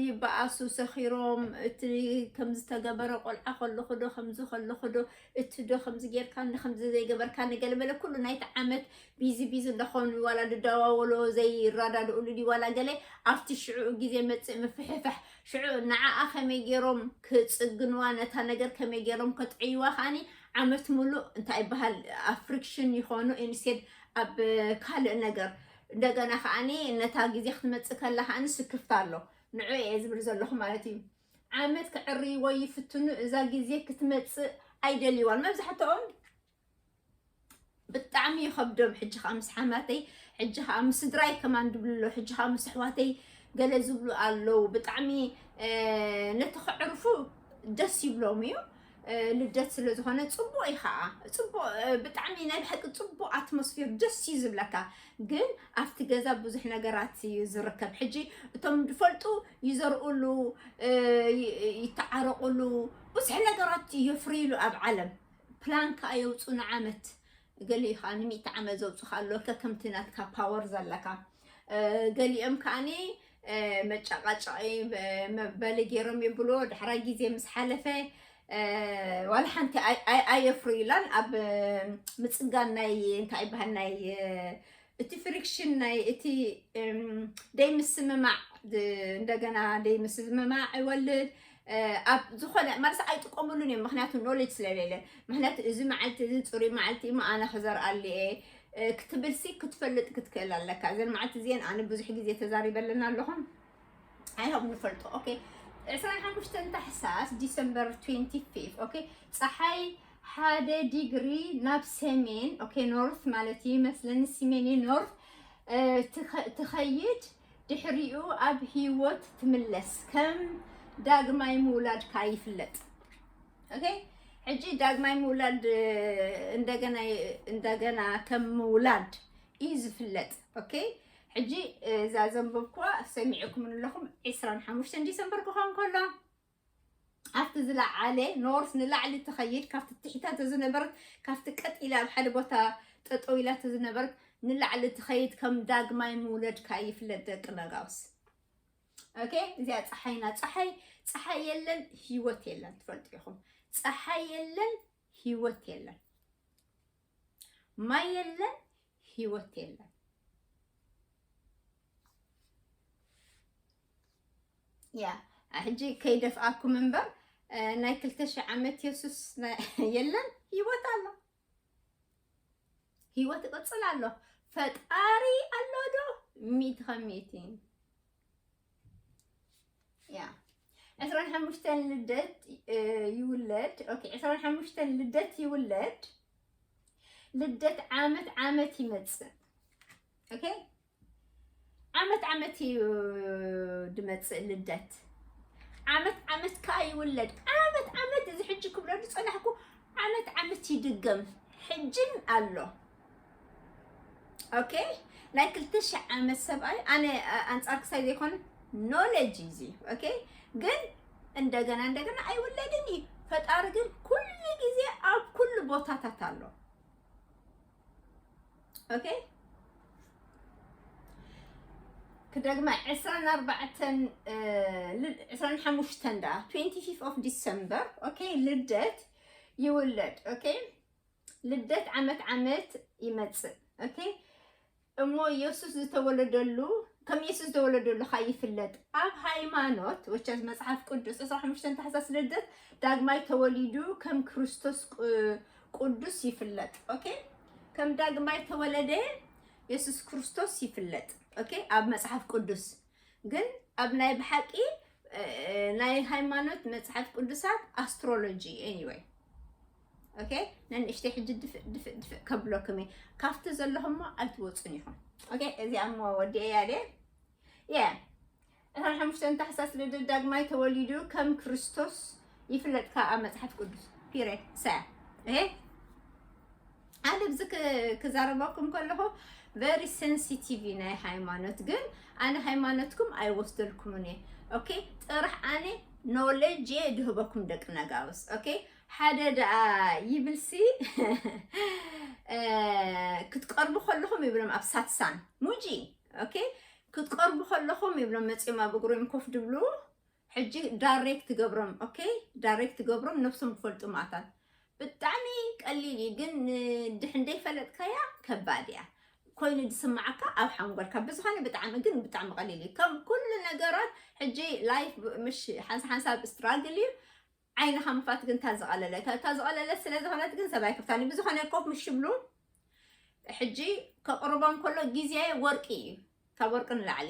ይበኣሱ ሰኺሮም እቲ ከምዝተገበረ ቆልዓ ከለኹ ዶ ከምዚ ከለኹ ዶ እቲ ዶ ከምዚ ጌርካኒ ከምዚ ዘይገበርካኒ ገለመለ ኩሉ ናይቲ ዓመት ቢዚ ቢዚ እንዳኾኑ ዋላ ዝደዋወሎ ዘይረዳድእሉ ድዩ ዋላ ገለ ኣብቲ ሽዕኡ ግዜ መፅእ ምፍሕፋሕ ሽዑ ንዓኣ ከመይ ጌሮም ክፅግንዋ ነታ ነገር ከመይ ጌሮም ከጥዕይዋ ከዓኒ ዓመት ሙሉእ እንታይ ይበሃል ኣብ ፍሪክሽን ይኾኑ ኢንስቴድ ኣብ ካልእ ነገር እንደገና ከዓኒ ነታ ግዜ ክትመፅእ ከላ ከዓኒ ስክፍታ ኣሎ ንዑ እየ ዝብል ዘለኹ ማለት እዩ ዓመት ከዕርይዎ ይፍትኑ እዛ ግዜ ክትመጽእ ኣይደልይዋን መብዛሕትኦም ብጣዕሚ ይኸብዶም ሕጂ ከዓ ምስ ሓማተይ ሕጂ ከዓ ምስ ስድራይ ከማን ድብሉ ኣሎ ሕጂ ከዓ ምስ ኣሕዋተይ ገለ ዝብሉ ኣለዉ ብጣዕሚ ነቲ ከዕርፉ ደስ ይብሎም እዩ ልደት ስለ ዝኾነ ፅቡቅ እዩ ከዓ ፅቡቅ ብጣዕሚ ናይ ብሓቂ ፅቡቅ ኣትሞስፌር ደስ እዩ ዝብለካ ግን ኣብቲ ገዛ ብዙሕ ነገራት እዩ ዝርከብ ሕጂ እቶም ዝፈልጡ ይዘርኡሉ ይተዓረቁሉ ብዙሕ ነገራት የፍርይሉ ኣብ ዓለም ፕላን ከዓ የውፅኡ ንዓመት ገሊኡ ከኣ ንሚእቲ ዓመት ዘውጽኻ ኣሎ ከከምቲ ናትካ ፓወር ዘለካ ገሊኦም ከኣኒ መጫቃጫቂ መበሊ ገይሮም ይብሎ ዳሕራይ ግዜ ምስ ሓለፈ ዋላ ሓንቲ ኣየፍርዩላን ኣብ ምፅጋን ናይ እንታይ ይበሃል ናይ እቲ ፍሪክሽን ናይ እቲ ደይ ምስምማዕ እንደገና ደይ ምስምማዕ ይወልድ ኣብ ዝኾነ ማለት ኣይጥቀምሉን እዮም ምክንያቱ ኖሌጅ ስለሌለ ምክንያቱ እዚ መዓልቲ እዚ ፅሩይ መዓልቲ እሞ ኣነ ክዘርኣሉ እየ ክትብልሲ ክትፈልጥ ክትክእል ኣለካ እዘን መዓልቲ እዚአን ኣነ ብዙሕ ግዜ ተዛሪበለና ኣለኹም ኣይሆብ ንፈልጦ ኦኬ 25 ታሕሳስ ዲሰምበር 25 ኦኬ ፀሓይ ሓደ ዲግሪ ናብ ሰሜን ኦኬ ኖርት ማለት እዩ መስለኒ ሲሜን ኖርት ትኸይድ ድሕሪኡ ኣብ ህይወት ትምለስ ከም ዳግማይ ምውላድካ ይፍለጥ ኦኬ ሕጂ ዳግማይ ምውላድ እንደገና እንደገና ከም ምውላድ እዩ ዝፍለጥ ኦኬ ሕጂ እዛ ዘንበብኩዋ ሰሚዕኩምን ኣለኹም ዕስራን ሓሙሽተን ዲሰምበር ክኾን ከሎ ኣብቲ ዝለዓለ ኖርስ ንላዕሊ ትኸይድ ካብቲ ትሕታተ ዝነበረት ካብቲ ቀጥ ኢላ ኣብ ሓደ ቦታ ጠጠው ኢላ ዝነበረት ንላዕሊ ትኸይድ ከም ዳግማይ ምውለድካ ይፍለጥ ደቂ ነጋውስ ኦኬ እዚኣ ፀሓይና ፀሓይ ፀሓይ የለን ህይወት የለን ትፈልጡ ኢኹም ፀሓይ የለን ህይወት የለን ማይ የለን ህይወት የለን። ያ ሕጂ ከይደፍኣኩም እምበር ናይ ክልተ ሽሕ ዓመት የሱስ የለን ህይወት ኣሎ፣ ህይወት ይቕፅል ኣሎ፣ ፈጣሪ ኣሎ ዶ ሚእቲ ከም ሚእቲ ያ ዕስራን ሓሙሽተን ልደት ይውለድ ኦኬ ዕስራን ሓሙሽተን ልደት ይውለድ ልደት ዓመት ዓመት ይመጽእ ኦኬ ዓመት ዓመት እዩ ድመጽእ ልደት ዓመት ዓመት ከዓ ይውለድ ዓመት ዓመት እዚ ሕጂ ክብለሉ ጸናሕኩ ዓመት ዓመት ይድገም ሕጅን ኣሎ ኦኬ ናይ ክልተ ሽሕ ዓመት ሰብኣይ ኣነ ኣንጻር ክሳይ ዘይኮነ ኖሌጅ እዩ እዚ ኦኬ ግን እንደገና እንደገና ኣይውለድን እዩ ፈጣሪ ግን ኩሉ ግዜ ኣብ ኩሉ ቦታታት ኣሎ ኦኬ ክደግማ ዕስራን ኣርባዕተን ዕስራን ሓሙሽተን ደኣ ትዌንቲ ፊፍ ኦፍ ዲሰምበር ኦኬ ልደት ይውለድ ኦኬ ልደት ዓመት ዓመት ይመጽእ ኦኬ እሞ ኢየሱስ ዝተወለደሉ ከም ኢየሱስ ዝተወለደሉ ካ ይፍለጥ ኣብ ሃይማኖት ወቸስ መጽሓፍ ቅዱስ 25 ታሕሳስ ልደት ዳግማይ ተወሊዱ ከም ክርስቶስ ቅዱስ ይፍለጥ ኦኬ ከም ዳግማይ ተወለደ ኢየሱስ ክርስቶስ ይፍለጥ ኦኬ ኣብ መጽሓፍ ቅዱስ ግን ኣብ ናይ ብሓቂ ናይ ሃይማኖት መጽሓፍ ቅዱሳት ኣስትሮሎጂ ኤኒወይ ኦኬ ነንእሽተይ ሕጂ ድፍእ ድፍእ ድፍእ ከብለኩም እየ ካብቲ ዘለኹሞ ኣይትወፁን ኢኹም ኦኬ እዚኣ እሞ ወዲ እያ ድየ የ እታ ሓሙሽተን ታሕሳስ ልደት ዳግማይ ተወሊዱ ከም ክርስቶስ ይፍለጥ ከኣ መጽሓፍ ቅዱስ ፒሬ ሰ እሄ ኣነ ብዚ ክዛረበኩም ከለኹ ቨሪ ሴንሲቲቭ ናይ ሃይማኖት ግን ኣነ ሃይማኖትኩም ኣይወስደልኩምን እየ ኦኬ ጥራሕ ኣነ ኖሌጅ እየ ድህበኩም ደቂ ነጋውስ ኦኬ ሓደ ደኣ ይብልሲ ክትቀርቡ ከለኹም ይብሎም ኣብ ሳትሳን ሙጂ ኦኬ ክትቀርቡ ከለኹም ይብሎም መፂኦም ኣብ እግሮም ኮፍ ድብሉ ሕጂ ዳሬክት ትገብሮም ኦኬ ዳሬክት ትገብሮም ነብሶም ክፈልጡ ማእታት ብጣዕሚ ቀሊል እዩ ግን ንድሕን ደይፈለጥካያ ከባድ እያ ኮይኑ ዝስማዓካ ኣብ ሓንጎልካ ብዝኾነ ብጣዕሚ ግን ብጣዕሚ ቀሊል እዩ ከም ኩሉ ነገራት ሕጂ ላይፍ ምሽ ሓንሳ ሓንሳብ ስትራግል እዩ ዓይንኻ ምፋት ግን እታ ዝቐለለት እታ ዝቐለለት ስለ ዝኾነት ግን ሰብ ኣይክፍታን ብዝኾነ ኮፍ ምስ ሽብሉ ሕጂ ከቕርቦም ከሎ ግዜ ወርቂ እዩ ካብ ወርቂ ንላዕሊ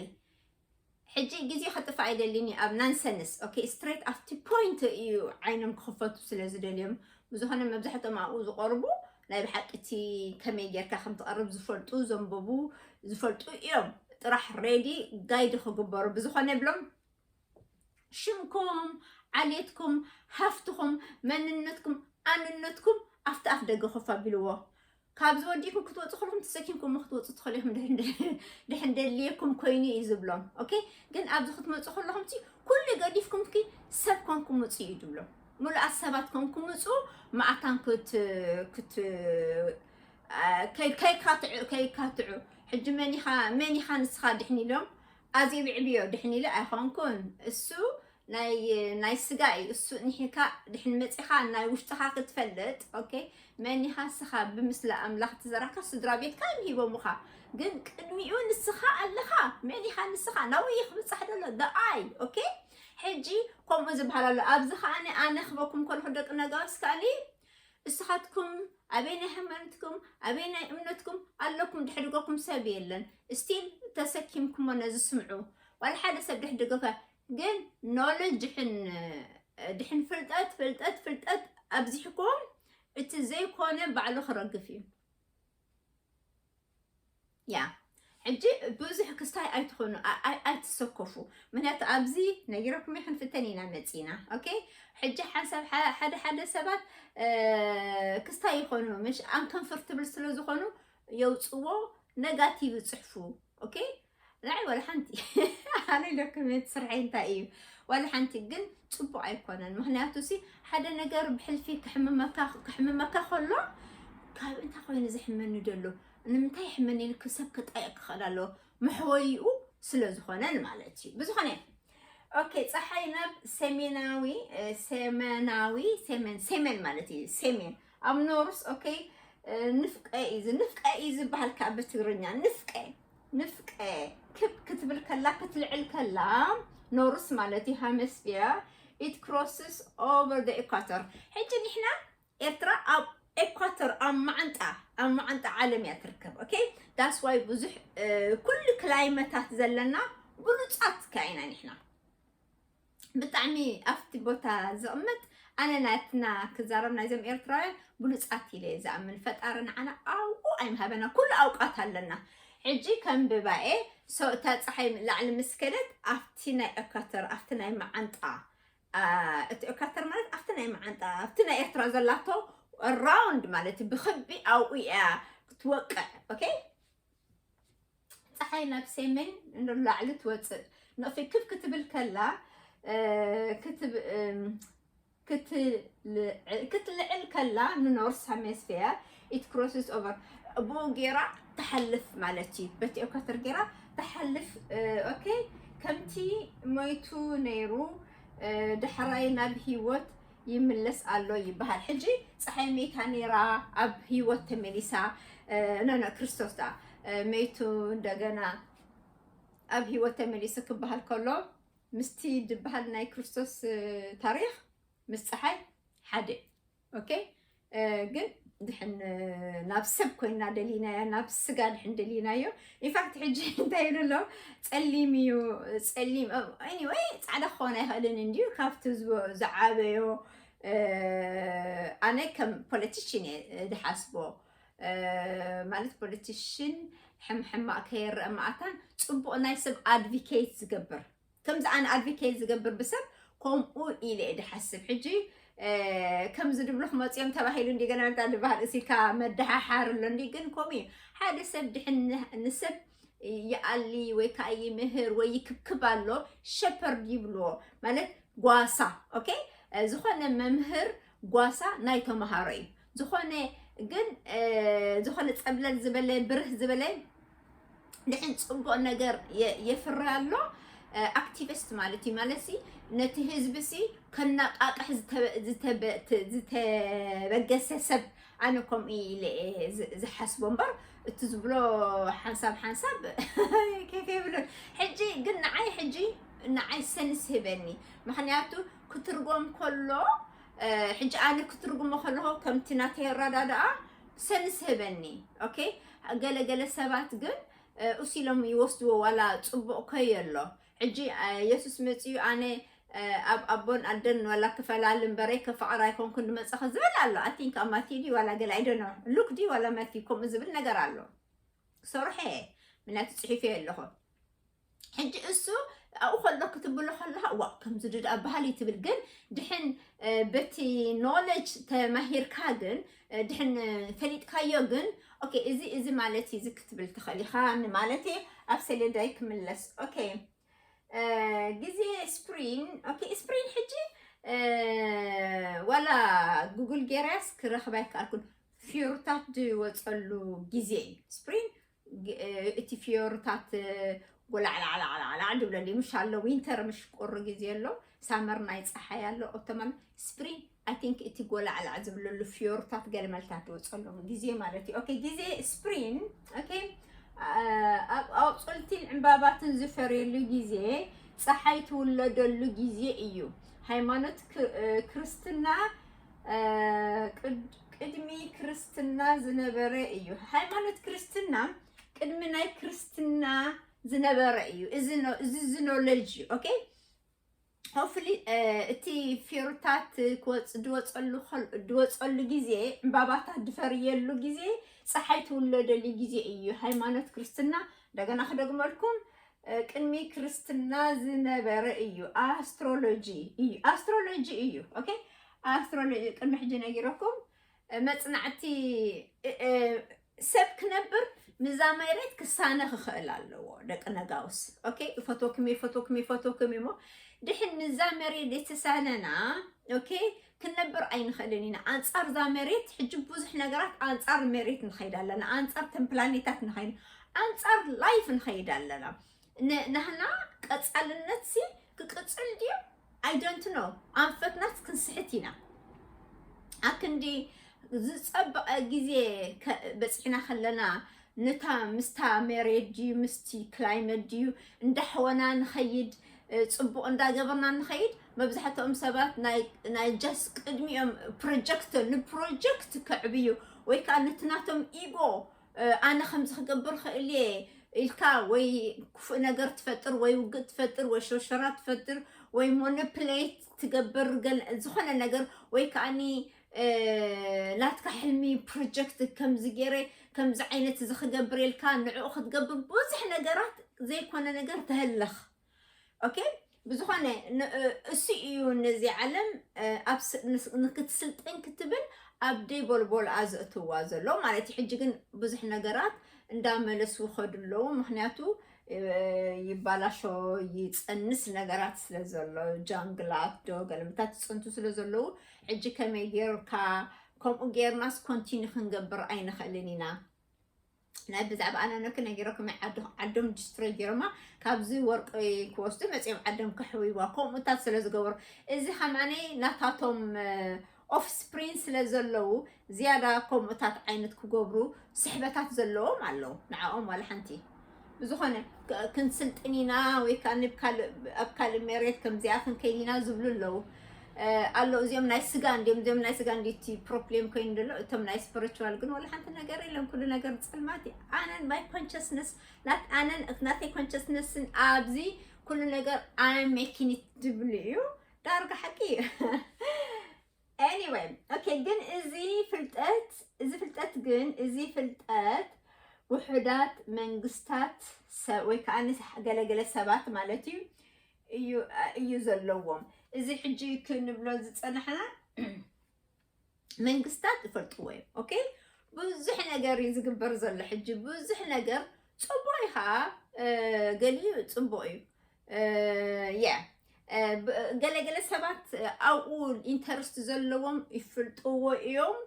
ሕጂ ግዜ ክጥፋእ ኣይደልን እዩ ኣብ ናንሰንስ ኦኬ ስትሬት ኣብቲ ፖይንት እዩ ዓይኖም ክኽፈቱ ስለ ዝደልዮም ብዝኾነ መብዛሕትኦም ኣብኡ ዝቐርቡ ናይ ብሓቂ እቲ ከመይ ጌርካ ከም ትቐርብ ዝፈልጡ ዘንበቡ ዝፈልጡ እዮም ጥራሕ ሬዲ ጋይድ ክግበሩ ብዝኾነ ብሎም ሽምኩም ዓሌትኩም ሃፍትኹም መንነትኩም ኣንነትኩም ኣብቲ ኣፍ ደገ ኮፍ ኣቢልዎ ካብዚ ወዲእኩም ክትወፁ ከለኹም ተሰኪምኩም ክትወፁ ትኽእሉ ኢኹም ድሕን ደልየኩም ኮይኑ እዩ ዝብሎም ኦኬ ግን ኣብዚ ክትመፁ ከለኹም ሲ ኩሉ ገዲፍኩም ኪ ሰብ ኮንኩም ምፁ እዩ ዝብሎም ምሉኣት ሰባት ኮንኩም ምፁ ማዕታን ክት ከይካትዑ ሕጂ መን ኢኻ መን ኢኻ ንስኻ ድሕን ኢሎም ኣዜብዕብዮ ድሕን ኢለ ኣይኮንኩን እሱ ናይ ናይ ስጋ እዩ እሱ እንሒርካ ድሕን መጺኻ ናይ ውሽጥኻ ክትፈልጥ ኦኬ መን ኢኻ ንስኻ ብምስሊ ኣምላኽ ተዘራካ ስድራ ቤትካ እዮም ሂቦምኻ ግን ቅድሚኡ ንስኻ ኣለኻ መን ኢኻ ንስኻ ናብኡ እዩ ክብጻሕ ደሎ ደኣይ ኦኬ ሕጂ ከምኡ ዝበሃል ኣሎ ኣብዚ ከዓኒ ኣነ ክበኩም ከለኹ ደቂ ነጋስ ከዓኒ እስኻትኩም ኣበየናይ ሃይማኖትኩም ኣበየናይ እምነትኩም ኣለኩም ድሕድገኩም ሰብ የለን ስቲል ተሰኪምኩሞ ነዚ ስምዑ ዋላ ሓደ ሰብ ድሕድገካ ግን ኖሎጅ ድሕን ድሕን ፍልጠት ፍልጠት ፍልጠት ኣብዚሕኩም እቲ ዘይኮነ ባዕሉ ክረግፍ እዩ ያ ሕጂ ብዙሕ ክስታይ ኣይትኾኑ ኣይትሰከፉ ምክንያቱ ኣብዚ ነጊረኩም እየ ክንፍተን ኢና መፂና ኦኬ ሕጂ ሓንሳብ ሓደ ሓደ ሰባት ክስታይ ይኾኑ ምሽ ኣንከንፍርትብል ስለ ዝኾኑ የውፅዎ ነጋቲቭ ይፅሕፉ ኦኬ ናይ ወላ ሓንቲ ኣነ ኢለኩም ስርሐይ እንታይ እዩ ወላ ሓንቲ ግን ፅቡቅ ኣይኮነን ምክንያቱ ሲ ሓደ ነገር ብሕልፊ ክሕምመካ ክሕምመካ ከሎ ካብ እንታይ ኮይኑ ዝሕመኒ ደሎ ንምንታይ ሕምኒ ኢልኪ ሰብ ክጣይቕ ክኸእል ኣለዎ መሕወይኡ ስለ ዝኾነን ማለት እዩ ብዝኾነ ኦኬ ፀሓይ ናብ ሰሜናዊ እ፣ ሰሜናዊ ሰሜን ሰሜን ማለት እዩ ሰሜን ኣብ ኖርስ ኦኬ እ፣ ንፍቀ እዩ ዝ- ንፍቀ እዩ ዝበሃል ከዓ ብትግርኛ ንፍቀ ንፍቀ ክብ ክትብል ከላ ክትልዕል ከላ ኖርስ ማለት እዩ ሃመስፊየር ኢት ክሮስስ ኦቨር ደ ኢኳተር ሕጂ ንሕና ኤርትራ ኣብ ኤኳቶር ኣብ ማዓንጣ ኣብ ማዓንጣ ዓለም እያ ትርከብ ኦኬ ዳስ ዋይ ብዙሕ ኩሉ ክላይመታት ዘለና ብሉጻት ከ ኢና ንሕና ብጣዕሚ ኣብቲ ቦታ ዝቕመጥ ኣነ ናትና ክዛረብ ናይዞም ኤርትራውያን ብሉፃት ኢለ ዝኣምን ፈጣሪ ንዓና ኣውቁ ኣይምሃበና ኩሉ ኣውቃት ኣለና ሕጂ ከም ብባኤ ሰውእታ ፀሓይ ላዕሊ ምስ ከደት ኣብቲ ናይ ኤኳተር ኣብቲ ናይ መዓንጣ እቲ ኦካተር ማለት ኣብቲ ናይ መዓንጣ ኣብቲ ናይ ኤርትራ ዘላቶ ራውንድ ማለት እዩ ብክቢ ኣብኡ እያ ክትወቅዕ ኦኬ ፀሓይ ናብ ሰሜን ንላዕሊ ትወፅእ ንቕፊ ክብ ክትብል ከላ ክትልዕል ከላ ንኖርስ ሄሚስፌር ኢት ክሮስስ ኦቨር ብኡ ጌራ ትሓልፍ ማለት እዩ በቲ ኦከትር ጌራ ትሓልፍ ኦኬ ከምቲ ሞይቱ ነይሩ ዳሕራይ ናብ ሂወት ይምለስ ኣሎ ይበሃል ሕጂ ፀሓይ መይታ ነይራ ኣብ ሂወት ተመሊሳ ነነ ክርስቶስ ዳ መይቱ እንደገና ኣብ ሂወት ተመሊሱ ክበሃል ከሎ ምስቲ ዝበሃል ናይ ክርስቶስ ታሪክ ምስ ፀሓይ ሓደ ኦኬ ግን ድሕን ናብ ሰብ ኮይና ደሊናያ ናብ ስጋ ድሕን ደሊናዮ ኢንፋክት ሕጂ እንታይ ይብሉ ኣሎ ፀሊም እዩ ፀሊም ኤኒወይ ፃዕዳ ክኾን ኣይኽእልን እንድዩ ካብቲ ዝዓበዮ ኣነ ከም ፖለቲሽን እየ ዝሓስቦ ማለት ፖለቲሽን ሕምሕማቅ ከየረእ መኣታን ፅቡቅ ናይ ሰብ ኣድቪኬት ዝገብር ከምዚ ኣነ ኣድቮኬት ዝገብር ብሰብ ከምኡ ኢለ እየ ድሓስብ ሕጂ ከምዚ ድብሉ ክመፅኦም ተባሂሉ እንዲ ገና እንታ ድበሃል እሲልካ መደሓሓር ኣሎ እንዲ ግን ከምኡ እዩ ሓደ ሰብ ድሕን ንሰብ ይኣሊ ወይ ከዓ ይምህር ወይ ይክብክብ ኣሎ ሸፐርድ ይብልዎ ማለት ጓሳ ኦኬ ዝኾነ መምህር ጓሳ ናይ ተምሃሮ እዩ ዝኾነ ግን ዝኾነ ፀብለል ዝበለ ብርህ ዝበለ ንሕን ፅቡቅ ነገር የፍሪ ኣሎ ኣክቲቪስት ማለት እዩ ማለት ሲ ነቲ ህዝቢ ሲ ከነቃቅሕ ዝተበገሰ ሰብ ኣነ ከምኡ ኢለ ዝሓስቦ እምበር እቲ ዝብሎ ሓንሳብ ሓንሳብ ኬፍ የብሉን ሕጂ ግን ንዓይ ሕጂ ንዓይ ሰንስ ህበኒ ምክንያቱ ክትርጎም ከሎ ሕጂ ኣነ ክትርጉሞ ከለኹ ከምቲ ናተይ ኣረዳድኣ ሰንስ ህበኒ ኦኬ ገለ ገለ ሰባት ግን እሱ ኢሎም ይወስድዎ ዋላ ፅቡቕ ከዮ ኣሎ ሕጂ የሱስ መፅኡ ኣነ ኣብ ኣቦን ኣደን ዋላ ክፈላል እምበረይ ከፋዕራ ኣይኮንኩን ድመፀኸ ዝብል ኣሎ ኣቲንክ ኣብ ማትዩ ድዩ ዋላ ገለ ኣይደኖ ሉክ ድዩ ዋላ ማትዩ ከምኡ ዝብል ነገር ኣሎ ሰርሐ ምክንያቱ ፅሒፈዮ ኣለኹ ሕጂ እሱ ኣብኡ ከሎ ክትብሎ ከለካ እዋ ከምዚ ዶ ደኣ ባህሊ ትብል ግን ድሕን በቲ ኖለጅ ተማሂርካ ግን ድሕን ፈሊጥካዮ ግን ኦኬ እዚ እዚ ማለት እዩ እዚ ክትብል ትኽእል ኢኻ ማለት እዩ ኣብ ሰሌዳይ ክምለስ ኦኬ ግዜ ስፕሪን ኦኬ ስፕሪን ሕጂ ዋላ ጉግል ጌራስ ክረኽባ ይከኣልኩን ፊሩታት ዝወፀሉ ግዜ እዩ ስፕሪን እቲ ፍዮርታት ጎላዕላዕላዕላዕ ድብለሉ ምሽ ኣሎ ዊንተር ምሽ ቁሪ ግዜ ኣሎ ሳመር ናይ ፀሓይ ኣሎ ኦቶማን ስፕሪን ኣይ ቲንክ እቲ ጎላዕላዕ ዝብለሉ ፍዮርታት ገልመልታት ዝወፀሎም ግዜ ማለት እዩ ኦኬ ግዜ ስፕሪን ኦኬ ኣብ ኣቁፅልቲን ዕምባባትን ዝፈርየሉ ግዜ ፀሓይ ትውለደሉ ግዜ እዩ ሃይማኖት ክርስትና ቅድሚ ክርስትና ዝነበረ እዩ። ሃይማኖት ክርስትና ቅድሚ ናይ ክርስትና ዝነበረ እዩ። እዚ እዚ ኖለጅ እዩ። ኦኬ ሆፍሊ እቲ ፊሩታት ድወፀሉ ድወፀሉ ግዜ ዕምባባታት ድፈርየሉ ግዜ ፀሓይ ትውለደሉ ግዜ እዩ ሃይማኖት ክርስትና። እንደገና ክደግመልኩም ቅድሚ ክርስትና ዝነበረ እዩ ኣስትሮሎጂ እዩ ኣስትሮሎጂ እዩ ኦኬ ኣስትሮሎጂ ቅድሚ ሕጂ ነጊረኩም መጽናዕቲ ሰብ ክነብር ምዛ መሬት ክሳነ ክኽእል ኣለዎ ደቂ ነጋውስ ኦኬ ይፈትወኩም ይፈትወኩም ይፈትወኩም እሞ ድሕን ምዛ መሬት የተሳነና ኦኬ ክንነብር ኣይንኽእልን ኢና ኣንጻር እዛ መሬት ሕጂ ብዙሕ ነገራት ኣንጻር መሬት ንኸይድ ኣለና ኣንጻር ተን ፕላኔታት ንኸይድ ኣንጻር ላይፍ ንኸይድ ኣለና ናህና ቀጻልነት ሲ ክቅጽል ድዩ ኣይደንት ኖ ኣንፈትናት ክንስሕት ኢና ኣብ ክንዲ ዝጸበቐ ግዜ በፂሕና ከለና ነታ ምስታ መሬት ድዩ ምስቲ ክላይመት ድዩ እንዳሕወና ንኸይድ ፅቡቕ እንዳገበርና ንኸይድ መብዛሕትኦም ሰባት ናይ ጃስ ቅድሚኦም ፕሮጀክት ንፕሮጀክት ከዕብዩ ወይ ከዓ ነቲ ናቶም ኢጎ ኣነ ከምዚ ክገብር ክእል እየ ኢልካ ወይ ክፉእ ነገር ትፈጥር ወይ ውግእ ትፈጥር ወይ ሸርሸራ ትፈጥር ወይ ሞኖፕሌት ትገብር ዝኾነ ነገር ወይ ከዓኒ ናትካ ሕልሚ ፕሮጀክት ከምዚ ገይረ ከምዚ ዓይነት እዚ ክገብር ኢልካ ንዕኡ ክትገብር ብዙሕ ነገራት ዘይኮነ ነገር ተህልኽ ኦኬ ብዝኾነ እሱ እዩ ነዚ ዓለም ንክትስልጥን ክትብል ኣብ ደይ ቦልቦል ኣዘእትዋ ዘሎ ማለት እዩ ሕጂ ግን ብዙሕ ነገራት እንዳመለሱ ከዱ ኣለዉ ምክንያቱ ይባላሾ ይፀንስ ነገራት ስለ ዘሎ ጃንግላት ዶ ገለምታት ይፅንቱ ስለ ዘለዉ ሕጂ ከመይ ጌርካ ከምኡ ጌርናስ ኮንቲኒ ክንገብር ኣይንኽእልን ኢና ናይ ብዛዕባ ኣነነኪ ነጊረኩም ኣይ ዓዱ ዓዶም ዲስትሮይ ገይሮማ ካብዚ ወርቂ ክወስዱ መፅኦም ዓዶም ከሕውይዋ ከምኡታት ስለ ዝገበሩ እዚ ከማኒ ናታቶም ኦፍ ስፕሪን ስለ ዘለዉ ዝያዳ ከምኡታት ዓይነት ክገብሩ ስሕበታት ዘለዎም ኣለዉ ንዓኦም ዋላ ሓንቲ ብዝኾነ ክ- ክንስልጥን ኢና ወይ ከዓ ንብ ካልእ- ኣብ ካልእ መሬት ከምዚኣ ክንከይድ ኢና ዝብሉ ኣለዉ ኣሎ እዚኦም ናይ ስጋ እንዲም እዚኦም ናይ ስጋ እንዲ እቲ ፕሮብሌም ኮይኑ ደሎ እቶም ናይ ስፕሪቹዋል ግን ወላ ሓንቲ ነገር የለን ኩሉ ነገር ፅልማት እዩ ኣነን ማይ ኮንሽስነስ ናት ኣነን ናተይ ኮንሽስነስን ኣብዚ ኩሉ ነገር ኣይ ሜኪኒት ዝብሉ እዩ ዳርጋ ሓቂ እዩ ኤኒወይ ኦኬ ግን እዚ ፍልጠት እዚ ፍልጠት ግን እዚ ፍልጠት ውሑዳት መንግስታት ወይ ከዓ ገለገለ ሰባት ማለት እዩ እዩ እዩ ዘለዎም እዚ ሕጂ ክንብሎ ዝጸናሕና መንግስታት ይፈልጥዎ እዮም ኦኬ ብዙሕ ነገር እዩ ዝግበር ዘሎ ሕጂ ብዙሕ ነገር ፅቡቅ እዩ ከዓ ገሊኡ ፅቡቅ እዩ ያ ገለገለ ሰባት ኣብኡ ኢንተርስት ዘለዎም ይፍልጥዎ እዮም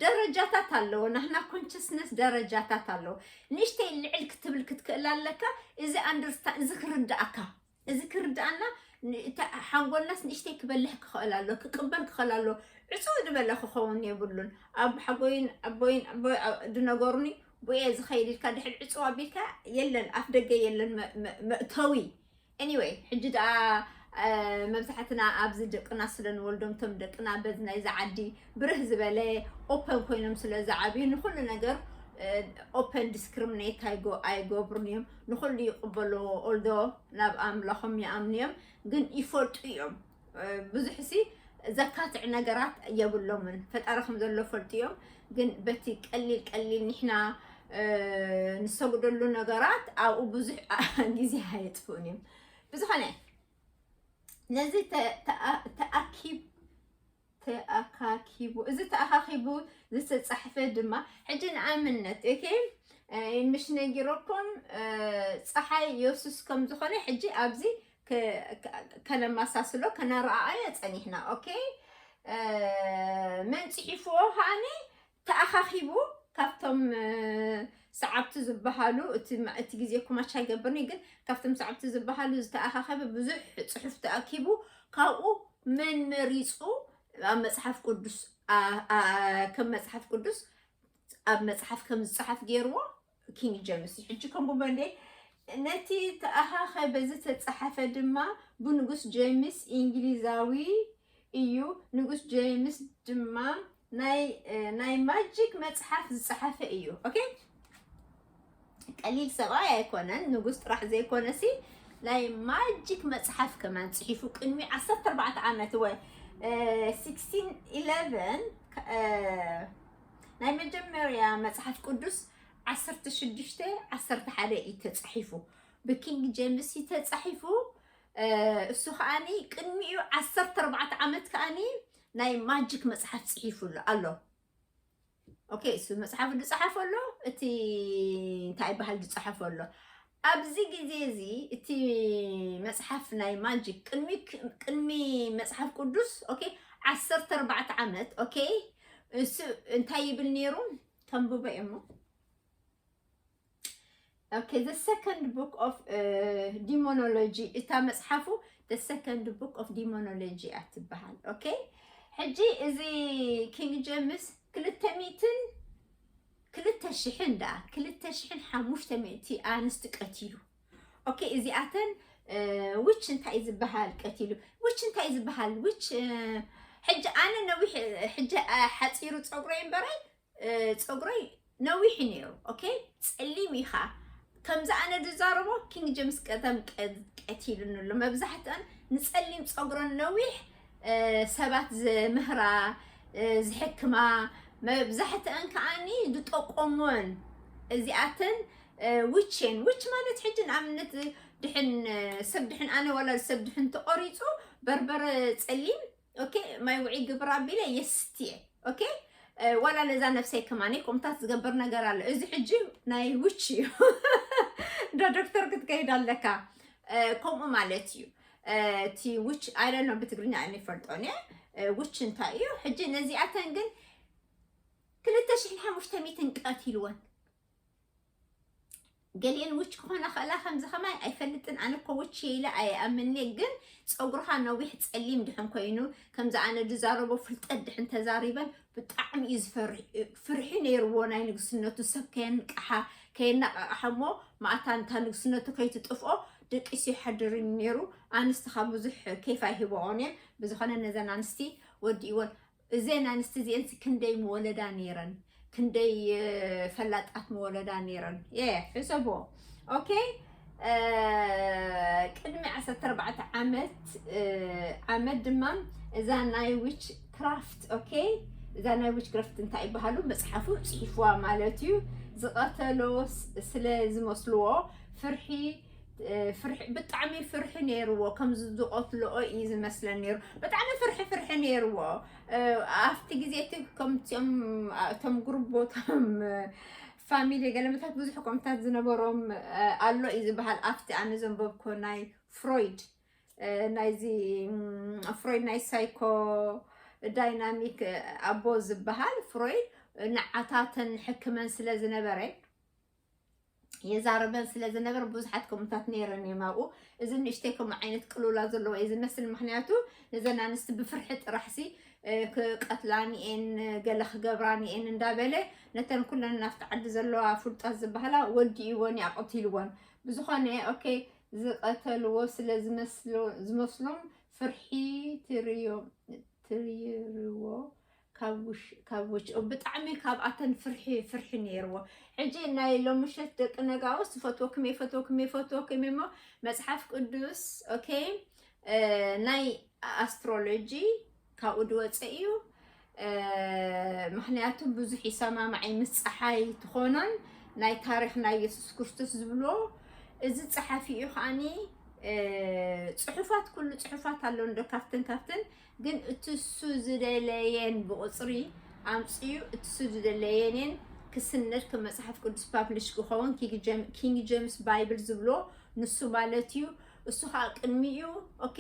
ደረጃታት ኣለዎ ናህና ኮንሽስነስ ደረጃታት ኣለዎ ንእሽተይ ልዕል ክትብል ክትክእል ኣለካ እዚ ኣንደርስታ እዚ ክርዳእካ እዚ ክርዳእና ሓንጎልናስ ንእሽተይ ክበልሕ ክኽእል ኣሎ ክቅበል ክኽእል ኣሎ ዕፅው ዝበለ ክኸውን የብሉን ኣብ ሓጎይን ኣቦይን ኣቦይ ዝነገሩኒ ብየ ዝኸይድ ኢልካ ድሕሪ ዕፅው ኣቢልካ የለን ኣፍ ደገ የለን መእተዊ Anyway ሕጂ ደኣ መብዛሕትና ኣብዚ ደቅና ስለ ንወልዶም እቶም ደቅና በዚ ናይዚ ዓዲ ብርህ ዝበለ ኦፐን ኮይኖም ስለ ዝዓብዩ ንኩሉ ነገር ኦፐን ዲስክሪሚኔት ኣይገብሩን እዮም ንኩሉ ይቕበልዎ ኦልዶ ናብ ኣምላኾም ይኣምኑ እዮም ግን ይፈልጡ እዮም ብዙሕሲ ዘካትዕ ነገራት የብሎምን ፈጣሪ ከም ዘሎ ፈልጡ እዮም ግን በቲ ቀሊል ቀሊል ንሕና ንሰግደሉ ነገራት ኣብኡ ብዙሕ ግዜ ኣየጥፍኡን እዮም ብዝኾነ ነዚ ተኣኪብ ተኣካኪቡ እዚ ተኣኻኺቡ ዝተጻሕፈ ድማ ሕጂ ንኣብነት እከ ምሽ ነጊረኩም ፀሓይ የሱስ ከም ዝኾነ ሕጂ ኣብዚ ከነመሳስሎ ከነረኣኣዮ ጸኒሕና ኦኬ መን ጽሒፍዎ ከዓኒ ተኣኻኺቡ ካብቶም ሰዓብቲ ዝበሃሉ እቲ ግዜ ኩማች ኣይገብርን እዩ ግን ካብቶም ሰዓብቲ ዝበሃሉ ዝተኣኻኸበ ብዙሕ ፅሑፍ ተኣኪቡ ካብኡ መን መሪፁ ኣብ መፅሓፍ ቅዱስ ከም መፅሓፍ ቅዱስ ኣብ መፅሓፍ ከም ዝፀሓፍ ገይርዎ ኪንግ ጀምስ እዩ ሕጂ ከምኡ በሌ ነቲ ተኣኻኸ በዚ ተጻሓፈ ድማ ብንጉስ ጀምስ ኢንግሊዛዊ እዩ ንጉስ ጀምስ ድማ ናይ ናይ ማጂክ መጽሓፍ ዝጻሓፈ እዩ ኦኬ ቀሊል ሰብኣይ ኣይኮነን ንጉስ ጥራሕ ዘይኮነ ሲ ናይ ማጂክ መጽሓፍ ከማን ጽሒፉ ቅድሚ 14 ዓመት ወይ 16 11 ናይ መጀመርያ መጽሓፍ ቅዱስ ዓሰርተ ሽዱሽተ ዓሰርተ ሓደ እዩ ተጻሒፉ ብኪንግ ጀምስ እዩ ተጻሒፉ እ፣ እሱ ከዓኒ ቅድሚኡ ዓሰርተ ኣርባዕተ ዓመት ከዓኒ ናይ ማጂክ መጽሓፍ ጽሒፉ ኣሎ ኣሎ ኦኬ እሱ መጽሓፍ ዝጸሓፈ ኣሎ እቲ እንታይ ይበሃል ዝጸሓፈ ኣሎ ኣብዚ ግዜ እዚ እቲ መጽሓፍ ናይ ማጂክ ቅድሚ ቅድሚ መጽሓፍ ቅዱስ ኦኬ ዓሰርተ ኣርባዕተ ዓመት ኦኬ እሱ እንታይ ይብል ነይሩ ተንብቦ እሞ ኦኬ ዘ ሰከንድ ቡክ ኦፍ ዲሞኖሎጂ እታ መጽሓፉ ዘ ሰከንድ ቡክ ኦፍ ዲሞኖሎጂ እያ ትበሃል ኦኬ ሕጂ እዚ ኪንግ ጀምስ ክልተ ሚእትን ክልተ ሽሕን ደኣ ክልተ ሽሕን ሓሙሽተ ሚእቲ ኣንስቲ ቀቲሉ ኦኬ እዚኣተን ዊች እንታይ እዩ ዝበሃል ቀቲሉ ዊች እንታይ እዩ ዝበሃል ዊች ሕጂ ኣነ ነዊሕ ሕጂ ሓፂሩ ፀጉረይ እምበረይ ፀጉረይ ነዊሕ ነይሩ ኦኬ ፀሊም ኢኻ ከምዚ ኣነ ዝዛረቦ ኪንግ ጀምስ ቀደም ቀቲሉኒ ኣሎ መብዛሕትአን ንፀሊም ፀጉረን ነዊሕ ሰባት ዝምህራ ዝሕክማ መብዛሕትአን ከዓኒ ዝጠቆሞን እዚኣተን ውቼን ውች ማለት ሕጂ ንኣብነት ድሕን ሰብ ድሕን ኣነ ወላ ሰብ ድሕን ተቆሪፁ በርበረ ፀሊም ኦኬ ማይ ውዒ ግብር ኣቢለ የስትየ ኦኬ ዋላ ነዛ ነፍሰይ ከማኒ ቁምታት ዝገብር ነገር ኣሎ እዚ ሕጂ ናይ ውች እዩ እንደ ዶክተር ክትከይድ ኣለካ ከምኡ ማለት እዩ እቲ ውች ኣይደኖ ብትግርኛ እኔ ፈልጦን እየ ውች እንታይ እዩ ሕጂ ነዚኣተን ግን ክልተ ሽሕን ሓሙሽተ ሚትን ቀትልወን ገሊኤን ውች ክኾና ኸእላ ከምዚ ከማይ ኣይፈልጥን ኣነ እኮ ውች የኢለ ኣይኣምኔ ግን ፀጉርኻ ነዊሕ ፀሊም ድሕን ኮይኑ ከምዚ ኣነ ዝዛረቦ ፍልጠት ድሕን ተዛሪበን ብጣዕሚ እዩ ዝፈርሕ ፍርሒ ነይርዎ ናይ ንግስነቱ ሰብ ከየንቅሓ ከየናቃቕሓ እሞ ማእታ እንታ ንግስነቱ ከይትጥፍኦ ደቂሱ ይሓድር እዩ ነይሩ ኣንስቲ ካብ ብዙሕ ኬፍ ኣይህበኦን እየን ብዝኾነ ነዘን ኣንስቲ ወዲእዎን እዘን ኣንስቲ እዚኤንሲ ክንደይ ምወለዳ ነይረን ክንደይ ፈላጣት ምወለዳ ነይረን የ ሕሰቦ ኦኬ ቅድሚ 14 ዓመት ዓመት ድማ እዛ ናይ ዊች ክራፍት ኦኬ እዛ ናይ ዊች ክራፍት እንታይ ይበሃሉ መፅሓፉ ፅሒፍዋ ማለት እዩ ዝቐተሎ ስለ ዝመስልዎ ፍርሒ ብጣዕሚ ፍርሒ ነይርዎ ከምዚ ዝቐትልኦ እዩ ዝመስለን ነይሩ ብጣዕሚ ፍርሒ ፍርሒ ነይርዎ ኣብቲ ግዜ እቲ ከምቲኦም እቶም ጉርቦቶም ፋሚሊ ገለመታት ብዙሕ ኮምታት ዝነበሮም ኣሎ እዩ ዝበሃል ኣብቲ ኣነ ዘንበብኮ ናይ ፍሮይድ ናይዚ ፍሮይድ ናይ ሳይኮ ዳይናሚክ ኣቦ ዝበሃል ፍሮይድ ንዓታተን ሕክመን ስለ ዝነበረ የዛርበን ስለ ዝነበር ብዙሓት ከምታት ነይረን እዮም ኣብኡ እዚ ንእሽተይ ከምኡ ዓይነት ቅልውላ ዘለዎ እዩ ዝመስል ምክንያቱ ነዘን ኣንስቲ ብፍርሒ ጥራሕሲ ክቀትላን እየን ገለ ክገብራን እየን እንዳበለ ነተን ኩለን ናብቲ ዓዲ ዘለዋ ፍልጣት ዝበሃላ ወዲእዎን እዩ ኣቐቲልዎን ብዝኾነ ኦኬ ዝቐተልዎ ስለ ዝመስሎም ፍርሒ ትርዮ ትርይርዎ ካብ ውሽኦም ብጣዕሚ ካብኣተን ፍርሒ ፍርሒ ነይርዎ ሕጂ ናይ ሎምሸት ደቂ ነጋውስ ዝፈትወክም የፈትወክም የፈትወክም እሞ መፅሓፍ ቅዱስ ኦኬ ናይ ኣስትሮሎጂ ካብኡ ድወፀ እዩ ምክንያቱ ብዙሕ ይሰማማዓይ ምስ ፀሓይ ትኾኖን ናይ ታሪክ ናይ የሱስ ክርስቶስ ዝብሎ እዚ ፀሓፊ እዩ ከዓኒ ፅሑፋት ኩሉ ፅሑፋት ኣሎ እንዶ ካብትን ካብትን ግን እቲ እሱ ዝደለየን ብቑፅሪ ኣምፅኡ እቲ እሱ ዝደለየንን ክስነድ ከም መፅሓፍ ቅዱስ ፓብሊሽ ክኸውን ኪንግ ጀምስ ባይብል ዝብሎ ንሱ ማለት እዩ እሱ ከዓ ቅድሚኡ ኦኬ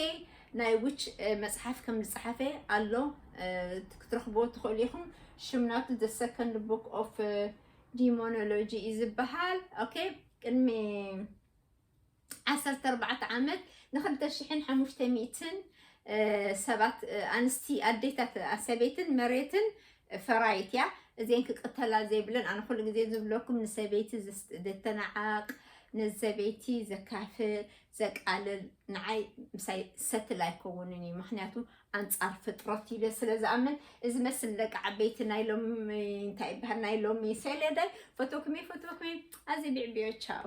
ናይ ዊች መፅሓፍ ከም ዝፀሓፈ ኣሎ ክትረኽቦ ትኽእሉ ኢኹም ሽም ናቱ ዘ ሰከንድ ቡክ ኦፍ ዲሞኖሎጂ እዩ ዝበሃል ኦኬ ቅድሚ ዓሰርተ ኣርባዕተ ዓመት ንክልተ ሽሕን ሓሙሽተ ሚእትን ሰባት ኣንስቲ ኣዴታት ኣሰበይትን መሬትን ፈራይት እያ እዚን ክቅተላ ዘይብለን ኣነ ኩሉ ግዜ ዝብለኩም ንሰበይቲ ዘተናዓቅ ንሰበይቲ ዘካፍእ ዘቃልል ንዓይ ምሳይ ሰትል ኣይከውንን እዩ ምክንያቱ ኣንጻር ፍጥረት ኢለ ስለ ዝኣምን እዚ መስል ደቂ ዓበይቲ ናይ ሎሚ እንታይ ይበሃል ናይ ሎሚ ሰለዳይ ፈቶክሚ ፈቶክሚ ኣዚ ቢዕቢዮ ቻው